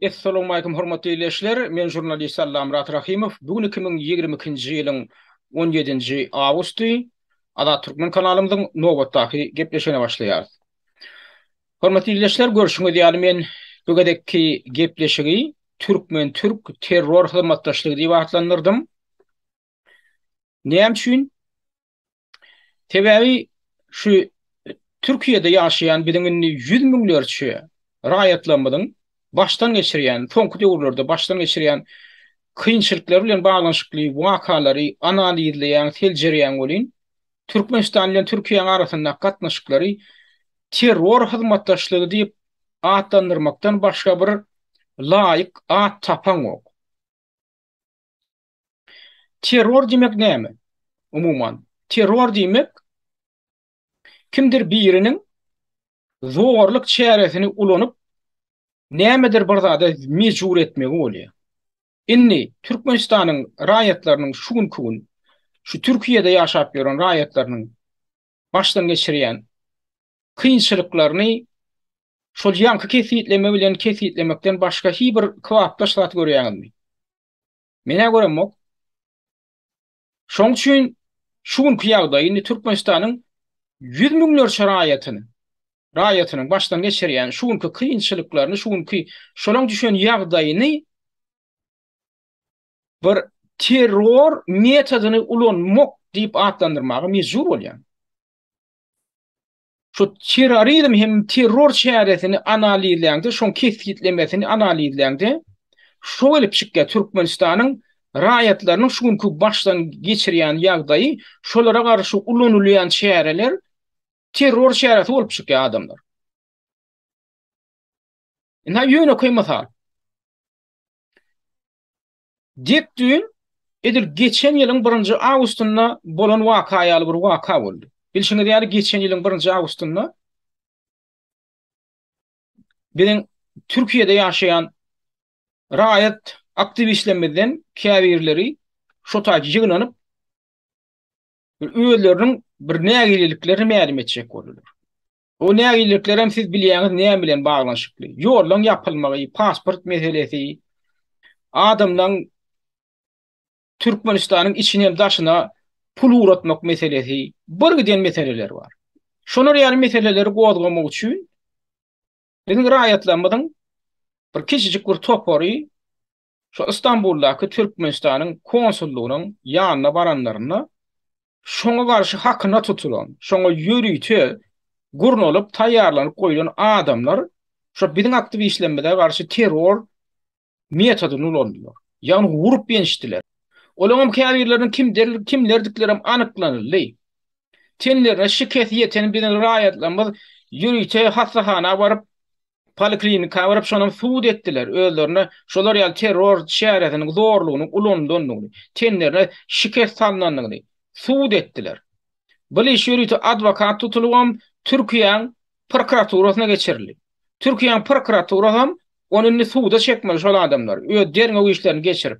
Essalowmalikim hormatly ildeşler, men žurnalist Allamyrat Rahymow, bu gün iki müň ýigrimi ikinji ýylyň on ýedinji awgusty, Azat Türkmen kanalymyzyň nobatdaky gepleşigine başlaýarys. Hormatly ildeşler, görşüňiz ýaly men bu gezekki gepleşigi Türkmen-Türk terror hyzmatdaşlygy diýip atlandyrdym. Näme üçin? Sebäbi şu Türkiýede ýaşaýan biziň indi ýüz müňlerçe raýatlarymyzyň başdan geçirýän, soňky döwürlerde başdan geçirýän kynçylyklar bilen baglanyşykly wakalary analizleýän, seljerýän welin, Türkmenistan bilen Türkiýäň arasyndaky gatnaşyklary terror hyzmatdaşlygy diýip atlandyrmakdan başga bir laýyk at tapaňok. Terror diýmek näme? Umuman, terror diýmek kimdir biriniň zorluk çäresini ulanyp nämedir bir zada mejbur etmegi bolýar. Indi Türkmenistanyň raýatlarynyň şu günki gün şu Türkiýede ýaşap ýören raýatlarynyň başdan geçirýän kynçylyklaryny şol ýaňky kesgitleme bilen kesgitlemekden başga hiç bir kybapdaş zat görýäňizmi? Menä göremok. Şoň üçin şu günki ýagdaý indi Türkmenistanyň ýüz müňlerçe raýatyny, raýatynyň başdan geçirýän şu günki kynçylyklaryny, şu günki şolaň düşen ýagdaýyny bir terror metodyny ulanmak diýip atlandyrmaga mejbur bolýan. Şu terrorizm hem terror çäresini analizleýäňde, şoň kesgitlemesini analizleýäňde, şo gelip çykýar, Türkmenistanyň raýatlarynyň şu günki başdan geçirýän ýagdaýy, şolara garşy ulanylýan çäreler terror çäresi bolup çykýar adamlar. Ine ýönekeý mysal. Dek düýn, edil geçen ýylyň birinji awgustynda bolan waka ýaly bir waka boldy. Bilşiňiz ýaly, geçen ýylyň birinji awgustynda biziň Türkiýede ýaşaýan raýat aktiwistlerimizden käbirleri şo taýda ýygnanyp, özleriniň bir nägileliklerini mälim etjek boldular. O nägileliklerem siz bilýäňiz näme bilen baglanyşykly. Ýollaryň ýapylmagy, pasport meselesi, adamlaryň Türkmenistanyň içine hem daşyna pul ugratmak meselesi, bir giden meseleler bar. Şolar ýaly meseleleri gozgamak üçin biziň raýatlarymyzyň bir kiçijik bir topary Şu Istanbuldaky Türkmenistanyň konsullygynyň ýanyna baranlarynda şoňa garşy hakyna tutulan, şoňa ýörite gurnalyp taýýarlanyp goýlan adamlar şu biziň aktiwistlerimize garşy terror metodyny ulandylar. Ýagny urup ýençdiler. Olaňam käbirleriniň kimdir kimlerdiklerem anyklanyldy. Tenlerine şikes ýeten biziň raýatlarymyz ýörite hassahana baryp Poliklinika baryp şonam sud etdiler özlerine şolar ýaly terror çäresiniň zorlugynyň ulanylandygyny, tenlerine şikes salnandygyny sud etdiler. Bul iş ýörite adwokat tutulybam Türkiýäň prokuraturasyna geçirildi. Türkiýäň prokuraturasam ony indi suda çekmeli şol adamlary öz derňew işlerini geçirip.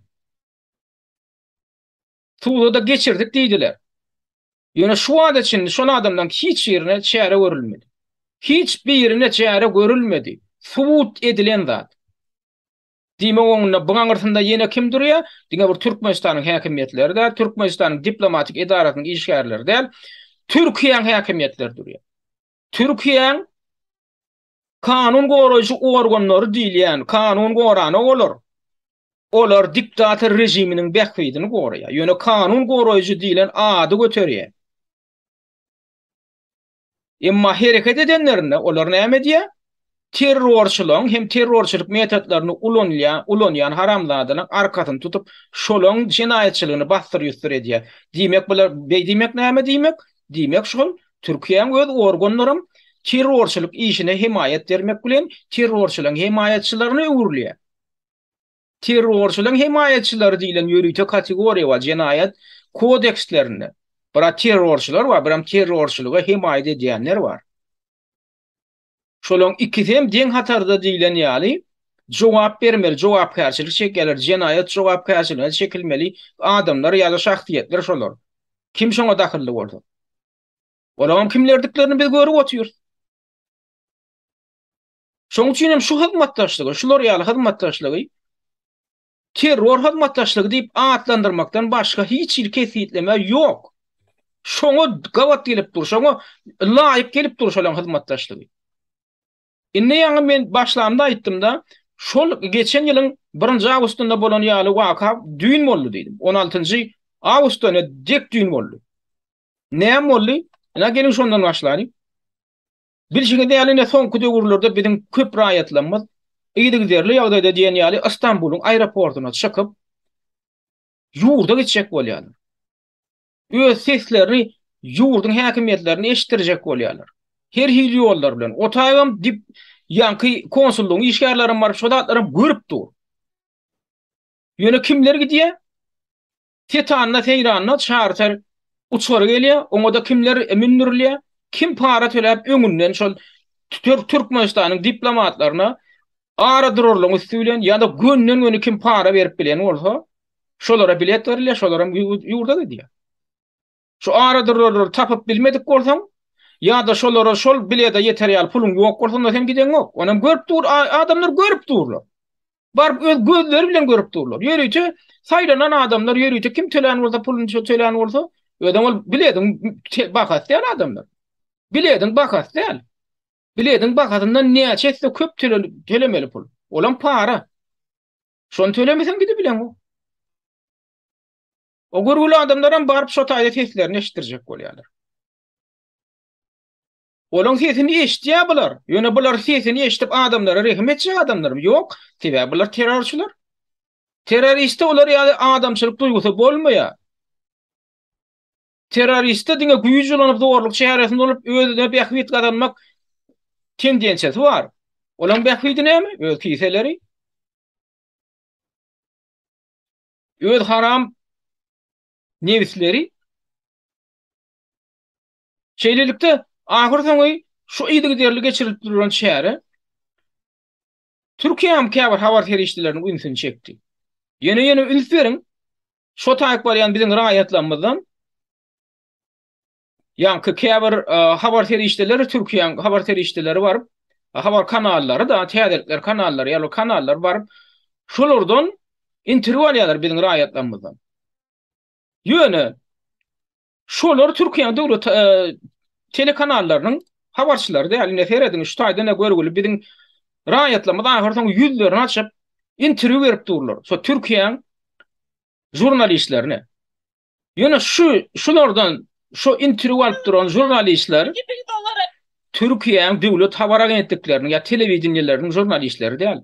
Suwda-da geçirdik diýdiler. Ýöne şu wagta çenli şol adamlaryň hiç birine çäre görülmedi. Hiç birine çäre görülmedi. Subut edilen zat. Diýmek oňunda bu aňyrsynda ýene kim durýar? Diňe bir Türkmenistanyň häkimiýetleri däl, Türkmenistanyň diplomatik edarasynyň işgärleri däl, Türkiýäň häkimiýetleri durýar. Türkiýäň Kanun goraýjy organlary diýilýän kanun gorana olar, olar diktator režiminiň bähbidini goraýar, ýöne kanun goraýjy diýlen ady göterýär. Emma hereket edenlerinde olar näme edýär? Terrorçylaň hem terrorçylyk metodlaryny ulanýan, ulanýan haramzadalaň arkasyny tutup, şolaň jenaýatçylygyny bassyr-ýussyr edýär. Diýmek bular, beý diýmek näme diýmek? Diýmek şol Türkiýäň öz organlaram terrorçylyk işine hemaýat bermek bilen terrorçylaryň hemaýatçylaryna öwrülýär. Terrorçylaryň hemaýatçylary diýlen ýörite kategoriýa bar jenaýat kodekslerinde. Biraz terrorçylar bar, biram terrorçylyga hemaýat edýänler bar. Şolaryň ikisi hem deň hatarda diýlen ýaly jogap bermeli, jogapkärçilik çekýärler, jenaýat jogapkärçiligine çekilmeli adamlar ýa-da şahsyýetler şolar. Kim şoňa dahylly bolsa. Olaryň kimlerdiklerini biz görüp otyrys. Şonuň üçin hem şu hyzmatdaşlygy, şular ýaly hyzmatdaşlygy Terror hyzmatdaşlygy diýip atlandyrmakdan başga hiç hili kesgitleme ýok. Şoňa gabat gelip dur, şoňa laýyk gelip dur şolaň hyzmatdaşlygy. Indi ýaňy men başlamda aýtdym-da, şol geçen ýylyň birinji awgustynda bolan ýaly waka düýn boldy diýdim. On altynjy awgustda ine dek düýn boldy. Näme boldy? Ine geliň şondan başlalyň. Bilşiňiz ýaly, ine, soňky döwürlerde biziň köp raýatlarymyz yzygiderli ýagdaýda diýen ýaly Ystambulyň aeroportuna çykyp, ýurda gitjek bolýarlar. Öz seslerini ýurduň häkimiýetlerine eşitdirjek bolýarlar. Her hili ýollar bilen. Otaýbam dip ýanky konsullygyň işgärlerim baryp şo zatlaram görüp dur. Ýöne kimler gidýär? Setanda-seýranda çarter uçary gelýär, oňa-da kimler mündürilýär, kim para töläp öňünden şol Türkmenistanyň diplomatlaryna ara durarlygyň üsti bilen ýa-da gönden-göni kim para berip bilen bolsa, şolara bilet berilýär, şolar hem ýurda gidýär. Şu aradurarlary tapyp bilmedik bolsaň, ýa-da şolara şol bilede ýeter ýaly puluň ýok bolsa, onda seň gideňok. Onam görüp dur, adamlar görüp durlar. Baryp öz gözleri bilen görüp durlar. Ýörite saýlanan adamlar, ýörite kim tölän bolsa, puluny şo tölän bolsa, özem ol bilediň bahasy däl adamlar. Bilediň bahasy däl. Bilediň bahasyndan näçe etse köp tölemeli pul. Olam para. Şony tölemeseň gidip bileňok. O görgüli adamlar hem baryp şo taýda seslerini eşitdirjek bolýarlar. Olaň sesini eşitýär bular. Ýöne bular sesini eşidip adamlara rehim etjek adamlarmy? Ýok. Sebäbi bular terrorçylar. Terroristde olar ýaly adamçylyk duýgusy bolmaýar. Terroristde diňe güýç ulanyp zorluk çäresini bolup özüne bähbit gazanmak tendensiýasy bar. Olaň bähbidi näme? Öz kiseleri. Öz haram nebisleri Şeýlelikde, ahyr soňy şu yzygiderli geçirilip durulan çäre Türkiýäň käbir habar serişdeleriniň ünsüni çekdi. Ýene-ýene üns beriň, şo taýyp barýan biziň raýatlarymyzdan Ýaňky käbir habar serişdeleri Türkiýäň habar serişdeleri baryp, habar kanallary da, täzelikler kanallary, ýaly kanallar baryp, şolardan interwýu alýarlar biziň raýatlarymyzdan. Ýöne şolar Türkiýäň döwlet telekanallarynyň habarçylary däl. Indi serediň, şu taýdan da görgüli biziň raýatlarymyz ahyrsoňy ýüzlerini açyp, interwýu berip durlar. Şo Türkiýäň žurnalistlerine. Ýöne şu şulardan şu interwýu alyp duran žurnalistler Türkiýäň döwlet habar agentlikleriniň ýa telewideniýeleriniň žurnalistleri däl.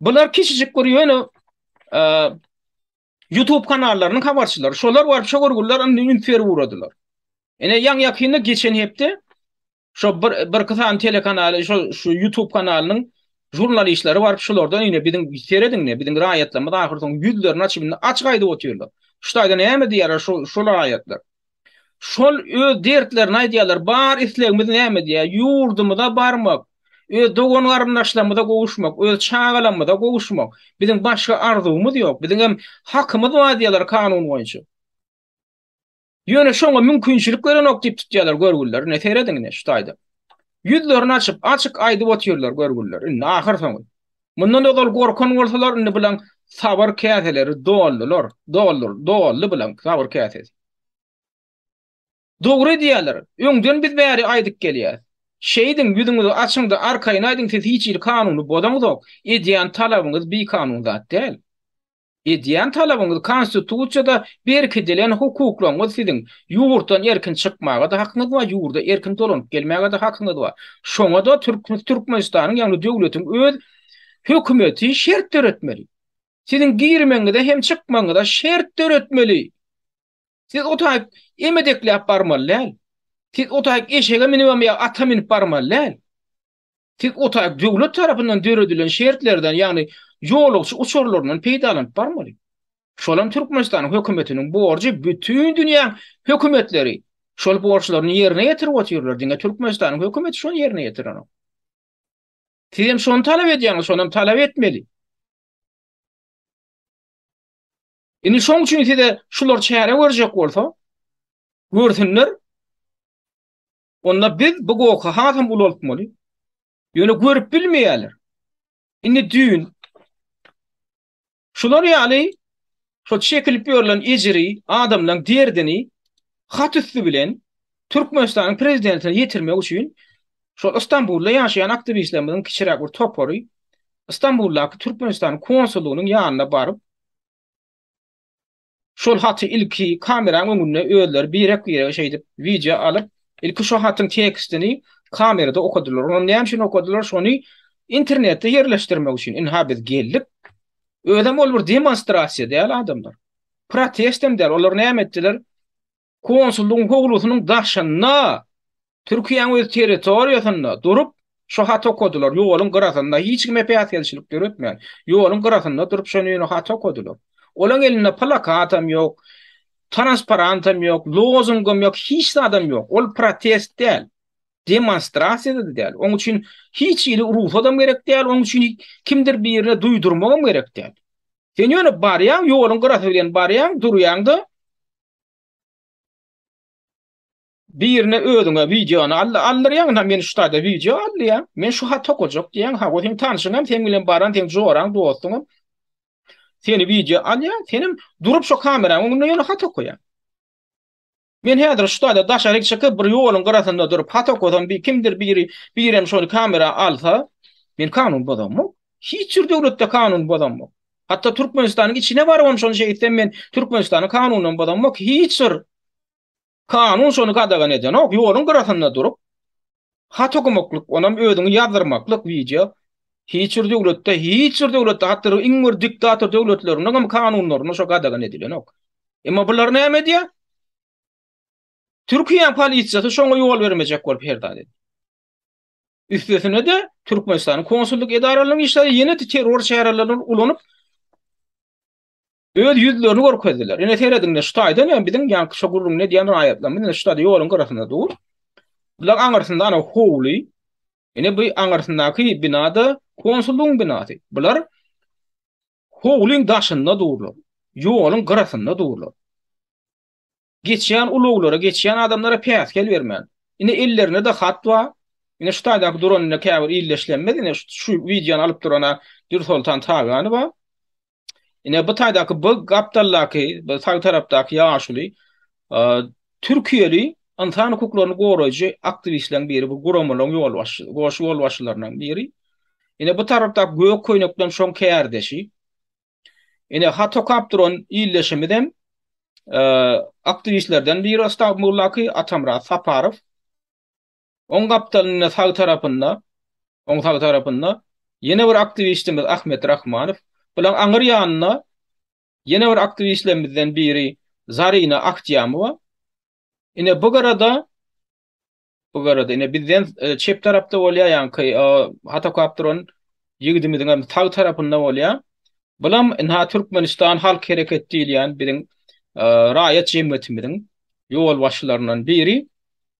Bular kiçijik bir ýöne e, YouTube kanallarynyň habarçylary. Şolar baryp şu görgüller indi interwýu uradylar. Ene ýaň ýakynda geçen hepde Şo bir birki sany telekanaly şo şu YouTube kanalynyň jurnalistleri baryp şulardan ýene biziň serediňne biziň raýatlarymyz ahyr soň ýüzlerini açyp indi açyk aýdyp otyrlar. Şu taýda näme diýýärler şu şol raýatlar. Şol öz dertlerini aýdýarlar. Bar islegimiz näme diýýär? Ýurdumyza barmak, öz dogan garyndaşlarymyza gowuşmak, öz çagalarymyza gowuşmak. Biziň başga arzuwymyz ýok. Biziň hem hakymyz bar diýýärler kanun boýunça. Ýöne şoňa mümkinçilik berenok diýip tutýarlar görgüliler, ine serediň ine şu taýda. Ýüzlerini açyp, açyk aýdyp otyrlar görgüliler, indi ahyrsoňy. Mundan ozal gorkan bolsalar, indi bilaň sabyr käseleri doldular, doldur, doldy bilaň sabyr käsesi. Dogry edýärler, öňden biz bäri aýdyp gelýäris. Şeýdiň, ýüzüňizi açyň-da, arkaýyn aýdyň siz hiç hili kanuny bozaňzok, edýän talabyňyz bikanun zat däl. Edýän talabyňyz konstitusiýada berkidilen hukuklaryňyz siziň, ýurtdan erkin çykmaga-da hakyňyz bar, ýurda erkin dolanyp gelmäge-de hakyňyz bar. Şoňa-da Türkmenistanyň ýagny döwletiň öz hökümeti şert döretmeli. Siziň girmegiňize hem çykmagyňyza şert döretmeli. Siz o taýyp emedekläp barmaly däl. Siz o taýyp eşege minibem ýa ata minip barmaly däl. Siz o taýy döwlet tarapyndan döredilen şertlerden, ýagny ýolagçy uçarlaryndan peýdalanyp barmaly. Şol hem Türkmenistanyň hökümetiniň borjy bütin dünýäň hökümetleri şol borçlaryny ýerine ýetirip otyrlar, diňe Türkmenistanyň hökümeti şony ýerine ýetirenok. Siz hem şony talap edýäňiz, şony hem talap etmeli. Indi şoň üçin size şular çäre görjek bolsa, görsünler. Onda biz bu goky hasam ulaltmaly. Ýöne görüp bilmeýärler. Indi düýn şular ýaly şo çekilip ýörlen ejiri, adamlaryň derdini hat üsti bilen Türkmenistanyň prezidentine ýetirmek üçin şol Istanbulda ýaşaýan aktiwistlerimiziň kiçiräk bir topary Istanbuldaky Türkmenistanyň konsullygynyň ýanyna baryp Şol haty ilki kameraň öňünde özleri birek-birege şeýdip wideo alyp, ilki şo hatyň tekstini kamerada okadylar. Onam näme üçin okadylar? Şony internetde ýerleşdirmek üçin. Ynha biz geldik. Özem ol bir demonstrasiýa däl adamlar. Protestem däl. Olar näme etdiler? Konsullygyň howlusynyň daşynda, Türkiýäň öz territoriýasynda durup, şu haty okadylar, ýoluň gyrasynda, hiç kime päsgelçilik döretmän, ýoluň gyrasynda durup, şony ýöne haty okadylar. Olaň elinde plakatam ýok, transparantam ýok, lozungam ýok, hiç zadam ýok. Ol protest däl, demonstrasiýa-da däl. Oň üçin hiç hili rugsadam gerek däl, oň üçin kimdir birine duýdurmagam gerek däl. Sen ýöne barýaň, ýoluň gyrasy bilen barýaň, durýaň-da, Birine özüňe wideony aldy, aldyrýaň ha men şu taýda wideo aldýa, men şu hat okajak diýýäň ha, o seň tanşyňam seň bilen baran seň joraň, dostuňam seni wideo alýa, senem durup şu kameraň öňünde ýöne hat okaýaň. Men häzir şu taýda daşaryk çykyp bir ýoluň gyrasynda durup hat okasam bir kimdir biri birem şony kamera alsa, men kanun bozamok. Hiç bir döwletde kanun bozamok. Hatda Türkmenistanyň içine barybam şony şeý etsem men Türkmenistanyň kanunyny bozamok, hiç bir kanun şony gadagan edenok, ýoluň gyrasynda durup hat okamaklyk, onam özüňi ýazdyrmaklyk wideo hiç bir döwletde, hiç bir döwletde hatda iň bir diktator döwletleriniňem kanunlarynda şo gadagan edilenok. Emma bular näme edýär? Türkiýäň polisiýasy şoňa ýol bermejek bolup her zat edýär. Üstesine-de, Türkmenistanyň konsullyk edaralarynyň işgärleri ýene terror çärelerini ulanyp, öz ýüzlerini görkezdiler. Ine serediň-de, şu taýdan hem biziň ýaňky şo gürrüňini edýän raýatlarymyz ine şu taýda ýoluň gyrasynda dur. Bular aňyrsynda ana howly. Ine bu aňyrsyndaky bina-da konsullygyň binasy. Bular howlyň daşynda durlar. Ýoluň gyrasynda durlar. Geçýän ulaglara, geçýän adamlara päsgel bermän. Ine ellerinde-de hat bar. Ine şu taýdaky duran ine käbir ildeşlerimiz ine şu wideony alyp durana Dürsoltan Taganowa. Ine bu taýdaky bu gapdaldaky, bu sag tarapdaky ýaşuly türkiýeli ynsan hukuklaryny goraýjy aktiwistleriň biri, bu guramalaryň ýolbaşçysy, goşa ýolbaşçylarynyň biri. Ine bu tarapdaky gök köýnekli hem şoň kärdeşi. Ine hat okap duran illeşimiz hem e, aktiwistlerden biri Stambuldaky Atamrat Saparow. Oň gapdalynda sag tarapynda, oň sag tarapynda ýene bir aktiwistimiz Ahmet Rahmanow. Bulaň aňyr ýanynda ýene bir aktiwistlerimizden biri Zarina Akjamowa. Ine bu garada Bu garada ine bizden çep tarapda bolýar ýaňky hatokap duran ýigidimiziň hem sag tarapynda bolýar. Bulam ina Türkmenistan halk hereket diýilýän biziň raýat jemgyýetimiziň ýolbaşçylaryndan biri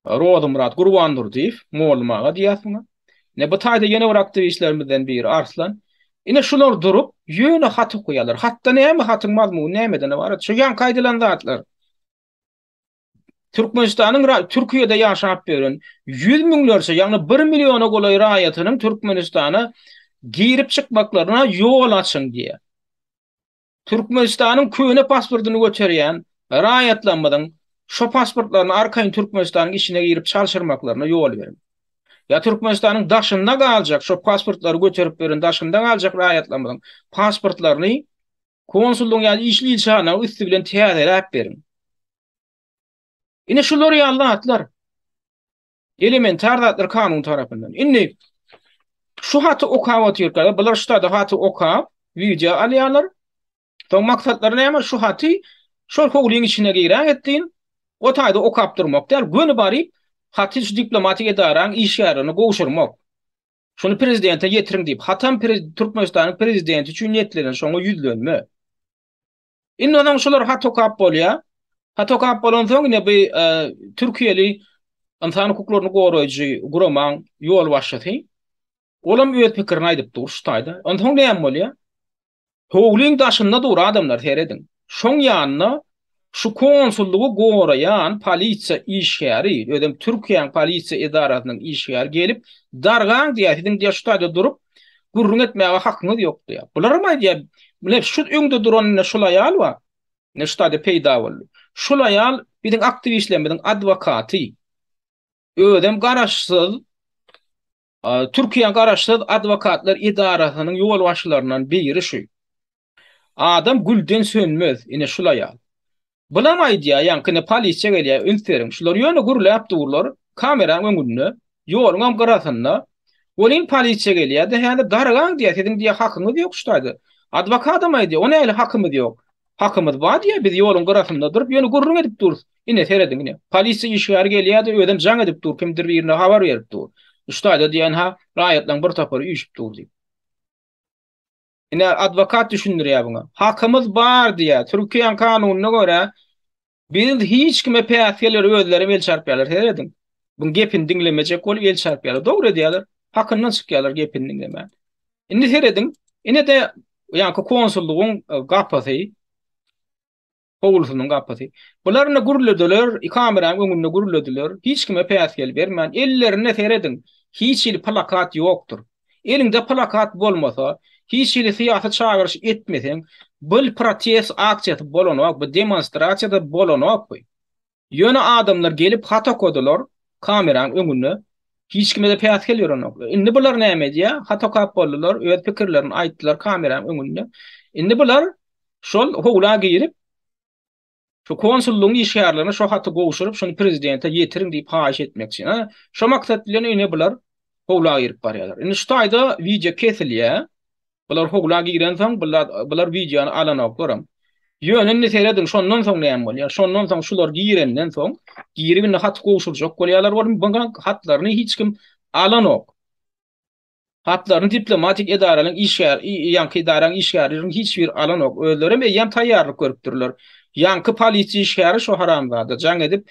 Rozymyrat Gurbandurdyýew, Mollum aga diýýäs muňa. Ine bu taýda ýene bir aktiwistlerimizden biri Arslan. Ine şular durup, ýöne hat okaýarlar. Hatda näme hatyň mazmuny nämeden ybarat? Şu ýaňky aýdylan zatlar. Türkmenistanyň Türkiýede ýaşap ýören ýüz müňlerçe, ýagny bir milliona golaý raýatynyň Türkmenistana girip-çykmaklaryna ýol açyň diýýär. Türkmenistanyň köne pasportyny göterýän raýatlarymyzyň şo pasportlaryny arkaýyn Türkmenistanyň içine girip çalşyrmaklaryna ýol beriň. Ýa Türkmenistanyň daşynda galjak, şo pasportlary göterip ýören daşynda galjak raýatlarymyzyň pasportlaryny Konsullygyň ýa işli ilçihanaň üsti bilen täzeläp beriň. Ine şular ýaly zatlar. Elementar zatlar kanun tarapyndan. Indi şu haty okap otyrkada, bular şu tada haty okap, wideo alýarlar. Soň maksatlary näme? Şu haty şol howlyň içine girä etdiň. O taýda okap durmak däl, göni baryp, haty şu diplomatik edaraň işgärlerine gowşurmak. Şuny prezidente ýetiriň diýip, hatam Türkmenistanyň prezidenti üçin niýetlenen şoňa ýüzlenme. Indi onsoň şular hat okap bolýar. Hat okap bolansoň ine bu e, türkiýeli ynsan hukuklaryny goraýjy guramaň ýolbaşçysy olam öz pikirini aýdyp dur şu taýda. Onsoň näme bolýar? Howlyň daşynda dur adamlar serediň. Şoň ýanynda şu konsullygy goraýan polisiýa işgäri, özem Türkiýäň polisiýa edarasynyň işgäri gelip, dargaň diýýär, siziň diýýär şu taýda durup gürrüň etmäge hakyňyz ýok diýýär. Bularam aýdýar, mine şu öňde duran ine şul aýal bar, ine şu taýda peýda boldy. Şul aýal biziň aktiwistlerimiziň adwokaty. Özem garaşsyz. Türkiýäň garaşsyz adwokatlar edarasynyň ýolbaşçylaryndan biri şu. Adam gülden sönmez, ine şul aýal. Bulam aýdýar, ýaňkyny polisiýa gelýär, üns beriň. Şular ýöne gürläp durlar, kameraň öňünde, ýoluňam gyrasynda. Welin polisiýa gelýär-de, häzir dargaň diýýär, siziň diýýär hakyňyz ýok şu taýda. Adwokadam aýdýar, o nähili hakymyz ýok. Hakymyz bar diýýär, biz ýoluň gyrasynda durup, ýöne gürrüň edip durus. Ine, serediň, ine, polisiýa işgäri gelýär-de, özem jaň edip dur, kimdir birine habar berip dur. Şutaýda diýen-hä, raýatlaryň bir topary üýşüp dur diýip. Ine, adwokat düşündirýär buňa. Hakymyz bar diýýär. Türkiýäň kanunyna görä, Biz hiç kime päsgeller özlerem el çarpýarlar serediň. Buň gepini diňlemejek bolup el çarpýarlar. Dogry edýärler. Hakyndan çykýarlar gepini diňlemän. Indi serediň. Inede ýaňky konsullygyň e, gapysy Howlusynyň gapysy. Bular indi gürledeler, kameranyň öňünde gürlediler. Hiç kime päsgel bermän, ellerinde serediň. Hiç il plakat ýokdur. Eliňde plakat bolmasa, hiç hili syýasy çagyryş etmeseň, bul protest aksiýasy bolanokby, demonstrasiýada bolanokby. Ýöne adamlar gelip hat okadylar kameraň öňünde. Hiç kime-de päsgel berenoklar. Indi bular näme edýä? Hat okap boldular, öz pikirlerini aýtdylar kameraň öňünde. Indi bular şol howla girip, Şu konsullygyň işgärlerine şo haty gowşuryp, şuny prezidente ýetiriň diýip haýyş etmekçi. Hä, şo maksat bilen ine bular howla girip barýarlar. Indi şu taýda wideo kesilýär. Bular howla girensoň, bular, bular wideony alanoklaram. Ýöne indi serediň, şondan soň näme bolýar? Şondan soň şular girenden soň, girip indi haty gowşurjak bolýarlar, onuň bu hatlaryny hiç kim alanok. Hatlaryny diplomatik edaranyň işgär, ýaňky edaraň işgärleriň hiç biri alanok. Özlerem eýýäm taýýarlyk görüpdirler. Ýaňky polisiýa işgäri şo haramzada jaň edip,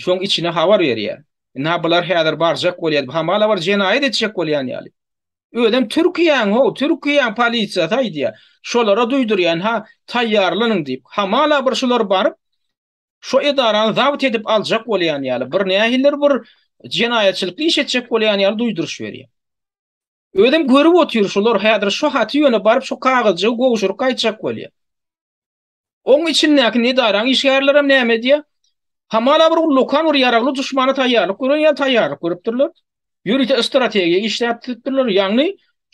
şoň içine habar berýä. Ynha bular häzir barjak bolýa diýip, hamala bir jenaýat etjek bolýan ýaly. Özem Türkiýäň-how, Türkiýäň polisiýasy aýdýa. Şolara duýdurýa, ynha taýýarlanyň diýip. Hamala bir şular baryp, Şo edarany zabt edip aljak bolýan ýaly, bir nähilidir bir jenaýatçylykly iş etjek bolýan ýaly duýduryş berýär. Özüm görüp otyr şular häzir şo haty ýöne baryp şo kagyzjygy gowşuryp gaýtjak bolýar. Oň içindäki nedaraň işgärlerem näme edýär? Hamala bir ullakan bir ýaragly duşmana taýýarlyk gören ýaly taýýarlyk görüpdirler. Ýörite strategiýa işläp düzüpdirler. Ýagny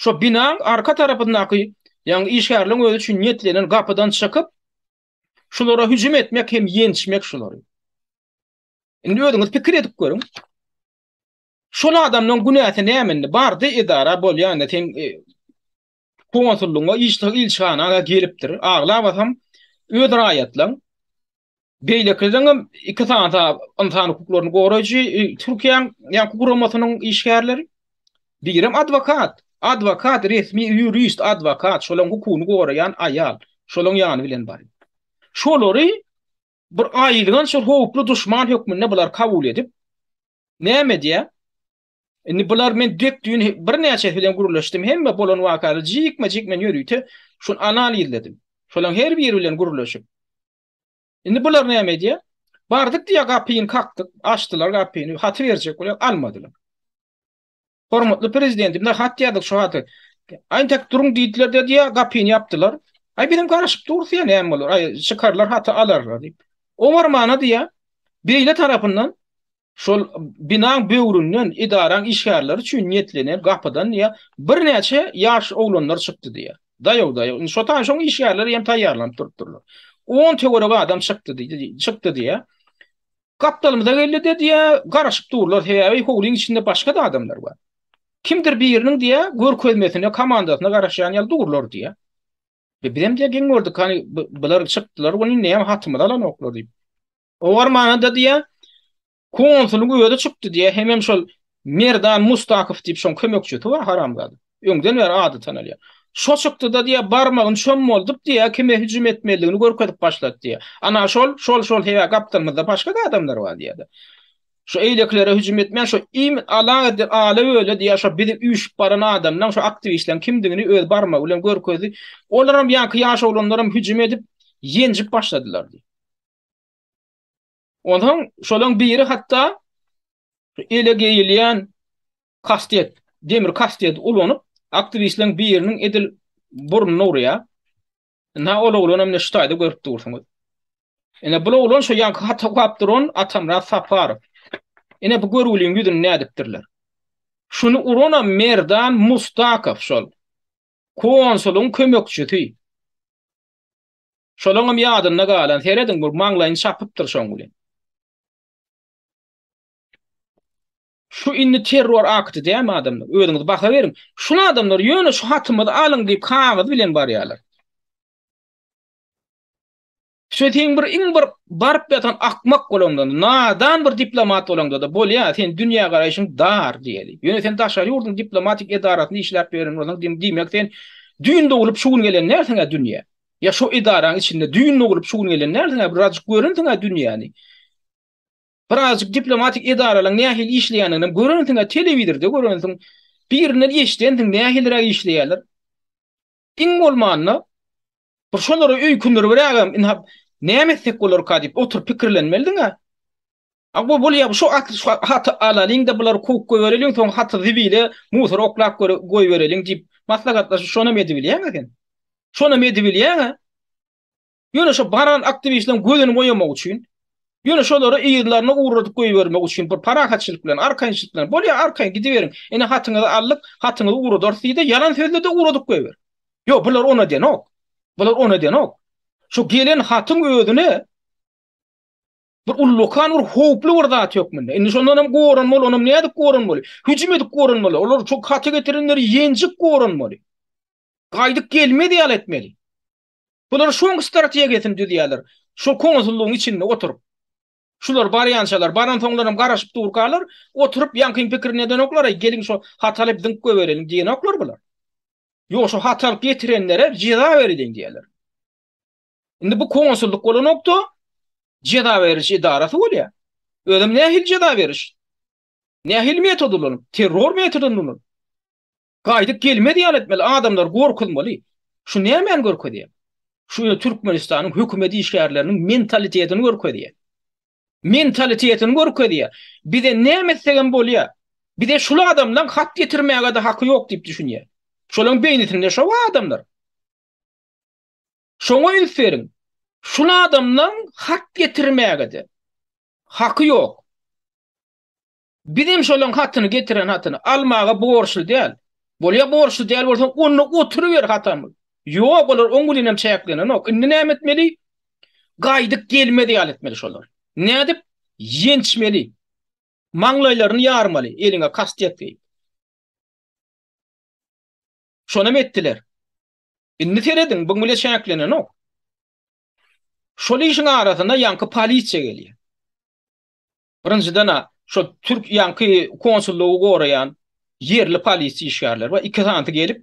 şo binaň arka tarapyndaky ýagny işgärleriň özi üçin niýetlenen gapydan çykyp, Şulara hüjüm etmek hem ýençmek şulary. Indi özüňiz pikir edip görüň. Şol adamdan günäsi nämendi? Bardy edara bolýanda sen e, konsullugyna, işçi ilçihana gelipdir. Aglap atam öz raýatlaryň beýlekilerin hem iki sany insan hukuklaryny goraýjy e, Türkiýäň ýa guramasynyň işgärleri Birem adwokat. Adwokat, resmi ýurist, adwokat, şolaň hukugyny goraýan aýal. Şolaň ýany bilen baryň. Şolary bir aýylganç bir howply duşman hökmünde bular kabul edip, näme edýä? Indi bular men dek düýn birnäçesi bilen gürleşdim, hemme bolan wakalary jikme-jik men ýörite şuny anal izledim. Şolaň her biri bilen gürleşip. Indi bular näme edýär? Bardyk diýýär, gapyny kakdyk, açdylar gapyny, haty berjek bolýar, almadylar. Hormatly prezidentimize hat ýazdyk şu haty. Aýn tek duruň diýdiler de diýýär, gapyny ýapdylar. Aý bizem garaşyp durus ýa näme bolar? Aý çykarlar haty alarlar diýip. Owarmana diýýär, beýle tarapyndan Şol binaň böwründen edaraň işgärleri üçin niýetlenen gapydan diýýär, birnäçe ýaş oglanlar çykdy diýýär. Daýaw-daýaw, indi şo taýdan şoň işgärleri hem taýýarlanyp durupdyrlar. On töweregi adam çykdy diýdi, çykdy diýýär. Gapdalymyza geldi-de diýýär, garaşyp durlar, sebäbi howlyň içinde başga-da adamlar bar. Kimdir biriniň diýýär, görkezmesine, komandasyna garaşýan ýaly durlar diýýär. Bizem diýýär, geň gördük, hany bular çykdylar welin, näme hatymyzy alanoklar diýip. Oňar manyda diýýär, konsulyň özi çykdy diýýär, hemem şol Merdan Mustakow diýip şoň kömekçisi bar haramzada. Öňden bäri ady tanalýar. Şo çykdy-da diýýär, barmagyn çöm boldup diýýär, kime hüjüm etmelidigini görkezip başlady diýýär. Ana şol, şol, şol hewä gapdalymyzda başga-da adamlar bar diýýär-de. Şo eýlekilere hüjüm etmän, şo im ala edip, ala öle diýýär, şo bizi üýşüp baran adamlaň, şo aktiwistleriň kimdigini öz barmagy bilen görkezdi. Olaram ýaňky ýaş oglanlaram hüjüm edip, ýenjip başladylar diýýär. Ondan şolaň biri hatda ele geýilýän kastet, demir kastet ulanyp, aktiwistleriň biriniň edil burnuny urýar. Ina ol oglan hem neştaýda görüp dursuňyz. Ina bu oglan şu ýanky hata gap duran Atamra Saparow. Ina bu görgüliň ýüzüni nädipdirler. Şuny urana Merdan Mustakow şol. Konsulyň kömekçisi. Şolaňam ýadynda galan, serediň bir maňlaýyny çapypdyr şoň bilen. Şu indi terror akty dämi adamlar? Özüňiz baha beriň. Şul adamlar ýöne şu hatymyzy alyň diýip kagyz bilen barýarlar. Şo seň bir iň bir baryp ýatan akmak bolanda, nadan bir diplomat bolanda-da bolýar, sen dünýä garaýşyň dar diýeli. Ýöne sen daşary ýurduň diplomatik edarasyny işläp ýören bolsaň, diýmek sen Düýn doglup şu gün gelen närsiň-ä dünýä? Ýa şo edaraň içinde düýn doglup şu gün gelen närsiň-ä birajyk görensiň-ä dünýäni? Birazjyk diplomatik edaralaň nähili işleýändiginem görensiň-ä telewizorda görensiň, birinden eşidensiň nähiliräk işleýärler. Iň bolmanda bir şolary öýkündiribrägem ynha näme etsek bolarka diýip oturyp pikirlenmelidiň-ä. A gowy bolýa şu at şu haty alalyň-da bulary kowup goýbereliň soň haty zibile musora oklap göre goýbereliň diýip maslahatlaşyp şonam edibilýäňä sen. Şonam edibilýäňä. Ýöne şu baran aktiwistleriň gözüni boýamak üçin ýöne şolary yzlaryna ugradyp goýbermek üçin bir parahatçylyk bilen arkaýynçylyk bilen bolýa arkaýyn gidiberiň ine hatyňyzy aldyk hatyňyzy ugradarys diýde ýalan sözle-de ugradyp goýber. Ýok bular on edenok. Bular on edenok. Şu gelen hatyň özüne Bir ullakan bir howply bir zat hökmünde. Indi şondan hem goranmaly, onam nädip goranmaly? Hüjüm edip goranmaly. Olar şu haty getirenleri ýenjip goranmaly. Gaýdyp gelmez ýaly etmeli. Bular şoň strategiýasyny düzýärler. Şu konsullygyň içinde oturyp. Şular barýançalar, baran soňlar hem garaşyp durkalar, oturyp ýaňkyň pikirini edenoklar, geliň şu haty alyp dynk goýberelim diýenoklar bular. Ýok, şu haty alyp getirenlere jeza beriliň diýerler. Indi bu konsullyk bolanokda ceza beriliş edarasy bolýar. Özüm nähili ceza beriş? Nähili metod ulanyp? Terror metodyny ulanyp. Gaýdyp gelmez ýaly etmeli, adamlar gorkuzmaly. Şu nämäni görkezýär? Şu Türkmenistanyň hökümet işgärleriniň mentalitetini görkezýär. Mentalitetini görkezýär. Bize näme etsegem bolýar. Bize şul adamlaryň hat getirmäge-de haky ýok diýip düşünýär. Şolaryň beýnisinde şo adamlar. Şoňa üns beriň. Şul adamlaň hat getirmäge-de haky ýok. Bizem şolaň hatyny getiren hatyny almaga borçly däl. Bolýa borçly däl bolsaň onda oturyber hatam. Ýok olar oň bilenem çäklenenok. Indi näme etmeli? Gaýdyp gelmez ýaly etmeli şolar. Nädip? Ýençmeli. Maňlaýlaryny ýarmaly eliňe kastiýet geýip. Şonam etdiler. Indi serediň, bu bile çäklenenok. Şol işiň arasyna ýaňky polisiýa gelýär. Birinjiden-ä şol türk ýaňky konsullygy goraýan ýerli polisiýa işgärleri bar, iki sanysy gelip,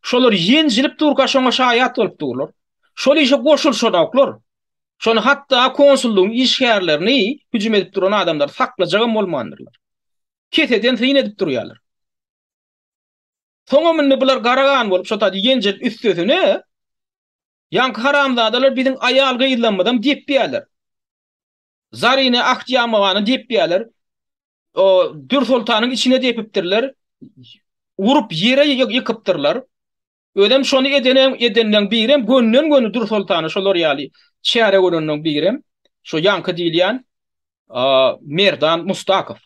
şolar ýenjilip durka şoňa şaýat bolup durlar. Şol işe goşulyşanoklar. Şony hatda konsullygyň işgärlerini hüjüm edip duran adamlary saklajagam bolmandyrlar. Keseden syn edip durýarlar. Soňam indi bular gara gan bolup şo taýda ýenjilip üstesine ýaňky haramzadalar biziň aýal-gyzlarymyzam depýärler. Zarine Ahtýamowany depýärler. O Dürsoltanyň içine depipdirler. Urup ýere ýykypdyrlar. Özem şony edenem edenden birem gönden göni Dürsoltany şolar ýaly çäre görenden birem şo ýaňky diýilýän Merdan Mustakow.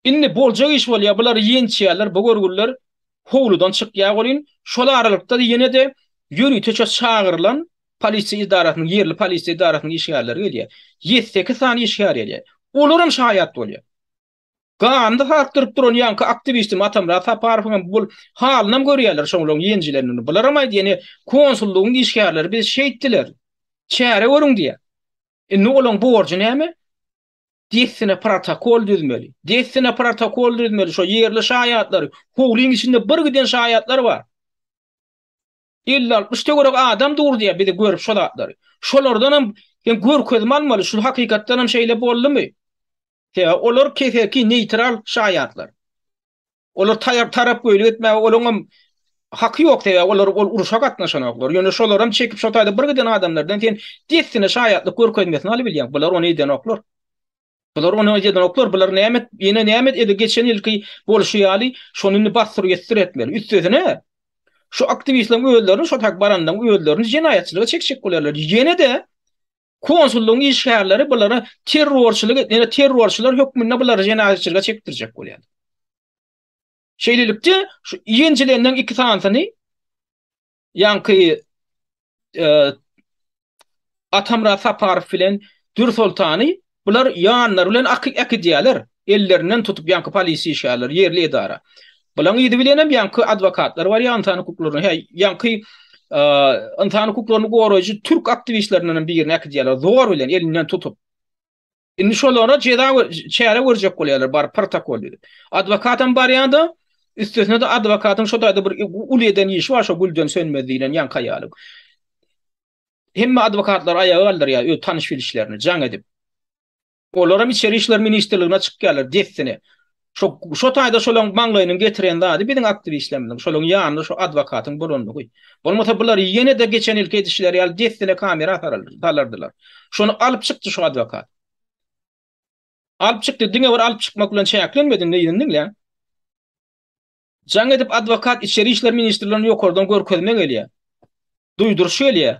Indi boljak iş bolýar, bulary ýençýärler, bu görgüliler howludan çykýar welin, şol aralykda ýene-de ýöriteçe çagyrylan polisiýa edarasynyň, ýerli polisiýa edarasynyň işgärleri gelýär. Ýedi-sekiz sany işgär gelýär. Olaram şaýat bolýar. Ganyny sarkdyryp duran ýaňky aktiwistimiz Atamyrat Saparowyň hem bu halynam görýärler şoňlaryň ýenjilenini. Bularam aýt, ýene konsullygyň işgärleri biz şeýtdiler, çäre görüň diýýär. Indi olaryň borjy näme? Dessine protokol düzmeli. Dessine protokol düzmeli. Şo ýerli şaýatlary, howlyň içinde bir giden şaýatlar bar. Elli-altmyş töwerek adam dur diýýär bizi görüp şo zatlary. Şolardanam sen görkezme almaly, şu hakykatdanam şeýle boldumy? Sebäbi olar keseki neýtral şaýatlar. Olar taýar tarap göýlik etmäge olaň hem haky ýok sebäbi olar ol uruşa gatnaşanoklar. Ýöne şolar hem çekip şo taýda bir giden adamlardan sen dessine şaýatlyk görkezmesini alyp bilýäň. Bular ony edenoklar. Bular ony edenoklar. Bular näme et, ýene näme et, edi geçen ýylky bolşy ýaly şony indi basdyr ýetdir etmeli. Üstesine şu aktiwistleriň özlerini şo tak barandan özlerini jenaýatçylyga çekjek bolarlar. Ýene-de Konsullygyň işgärleri bulara terrorçylyk et, ýa-da terrorçylar hökmünde bulary jenaýatçylyga çekdirjek bolýar. Şeýlelikde, şu ýenjilenden iki sanysyny ýaňky e, Atamyrat Saparow bilen Dür Soltany bular ýanlary bilen akydýarlar. Ellerinden tutup ýaňky polisiýa işgärleri, ýerli edara. Bulaň yzy bilenem ýaňky adwokatlar bar, ýansan hukuklaryny, hä, ýaňky ynsan hukuklaryny goraýjy türk aktiwistlerindenem birini äkidýärler, zor bilen elinden tutup. Indi şolara jeza çäre görjek bolýarlar, baryp protokol düzüp. Adwokatam barýanda, üstesine-de adwokatyň şo taýda bir uly eden işi bar, şo Gülden Sönmez diýlen ýaňky aýalyň. Hemme adwokatlary aýaga galdyrýar, öz tanyş-bilişlerini jaň edip. Olaram içeri işler ministrligine çykýarlar dessine. Şo şo taýda şolaň maňlaýynyň getiren zady biziň aktiwistlerimiziň şolaň ýanynda şo adwokatyň bolandygy. Bolmasa bular ýene-de geçen ýylky edişleri ýaly dessine kamera asaraldy, salardylar. Şony alyp çykdy şo adwokat. Alyp çykdy, diňe bir alyp çykmak bilen çäklenmedi, indi ýyny diňläň. Jaň edip adwokat içeri işler ministrligine ýokardan görkezme gelýär. Duýduryş gelýär.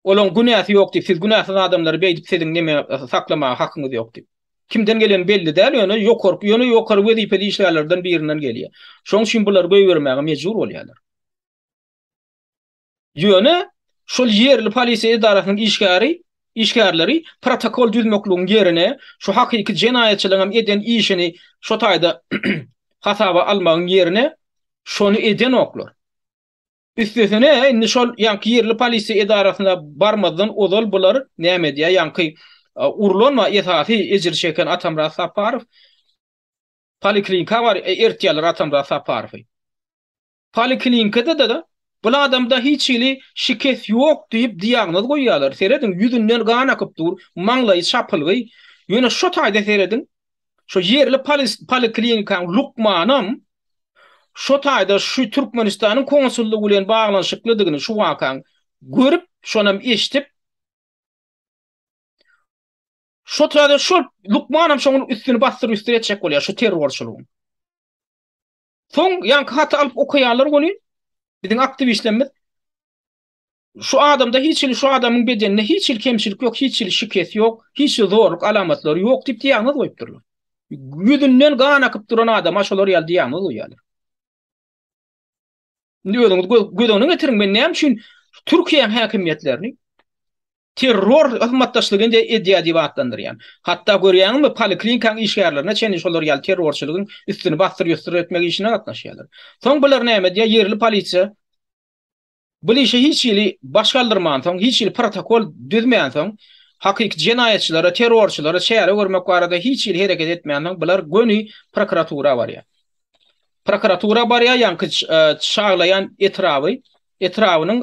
Olaň günäsi ýok diýip, siz günäsiz adamlary beýdip siziň neme saklamaga hakyňyz ýok diýip. Kimden geleni belli däl, ýöne ýokarky, ýöne ýokary wezipeli işgärlerden birinden gelýär. Şoň üçin bulary goýbermäge mejbur bolýarlar. Ýöne şol ýerli polisiýa edarasynyň işgäri, işgärleri protokol düzmekligiň ýerine şu hakyky jenaýatçylaryň hem eden işini şo taýda hasaba almagyň ýerine şony edenoklar. Üstesine indi şol ýaňky ýerli polisiýa edarasyna barmazdan ozal bular näme edýär ýaňky urlan we esasy ejir çeken Atamyrat Saparow poliklinika bar ertýärler Atamyrat Saparowy. Poliklinikada-da bul adamda hiç hili şikes ýok diýip diagnoz goýýarlar. Serediň ýüzünden gan akyp dur, maňlaýy çapylgy. Ýöne şo taýda serediň Şu ýerli poliklinikaň lukmanam şu taýda şu Türkmenistanyň konsullygy bilen baglanyşyklydygyny şu wakaň görüp, şonam eşdip, şu taýda şol lukmanam şoň üstüni basdyryp üstüni etjek bolýar şu terrorçylygyň. Soň ýaňky haty alyp okaýanlar welin biziň aktiwistlerimiz Şu adamda hiç hili şu adamyň bedeninde hiç hili kemçilik ýok, hiç hili şikes ýok, hiç hili zorluk alamatlary ýok diýip diagnoz goýupdyrlar. Ýüzünden gan akyp duran adama şolar ýaly diagnoz goýýarlar. Indi özüňiz göz öňüne getiriň, men näme üçin Türkiýäň häkimiýetlerini terror hyzmatdaşlygy indi edýär diýip atlandyrýan. Hatda görýäňizmi, poliklinikaň işgärlerine çenli şolar ýaly terrorçylygyň üstüni basdyr-ýusdyr etmek işine gatnaşýarlar. Soň bular näme diýýär, ýerli polisiýa Bu işe hiç hili baş galdyrmansoň, hiç hili protokol düzmänsoň, hakyky jenaýatçylara, terrorçylara çäre görmek barada hiç hili hereket etmänsoň, bular göni prokuratura barýar. Prokuratura barýar, ýaňky Çaglaýan etraby, etrabynyň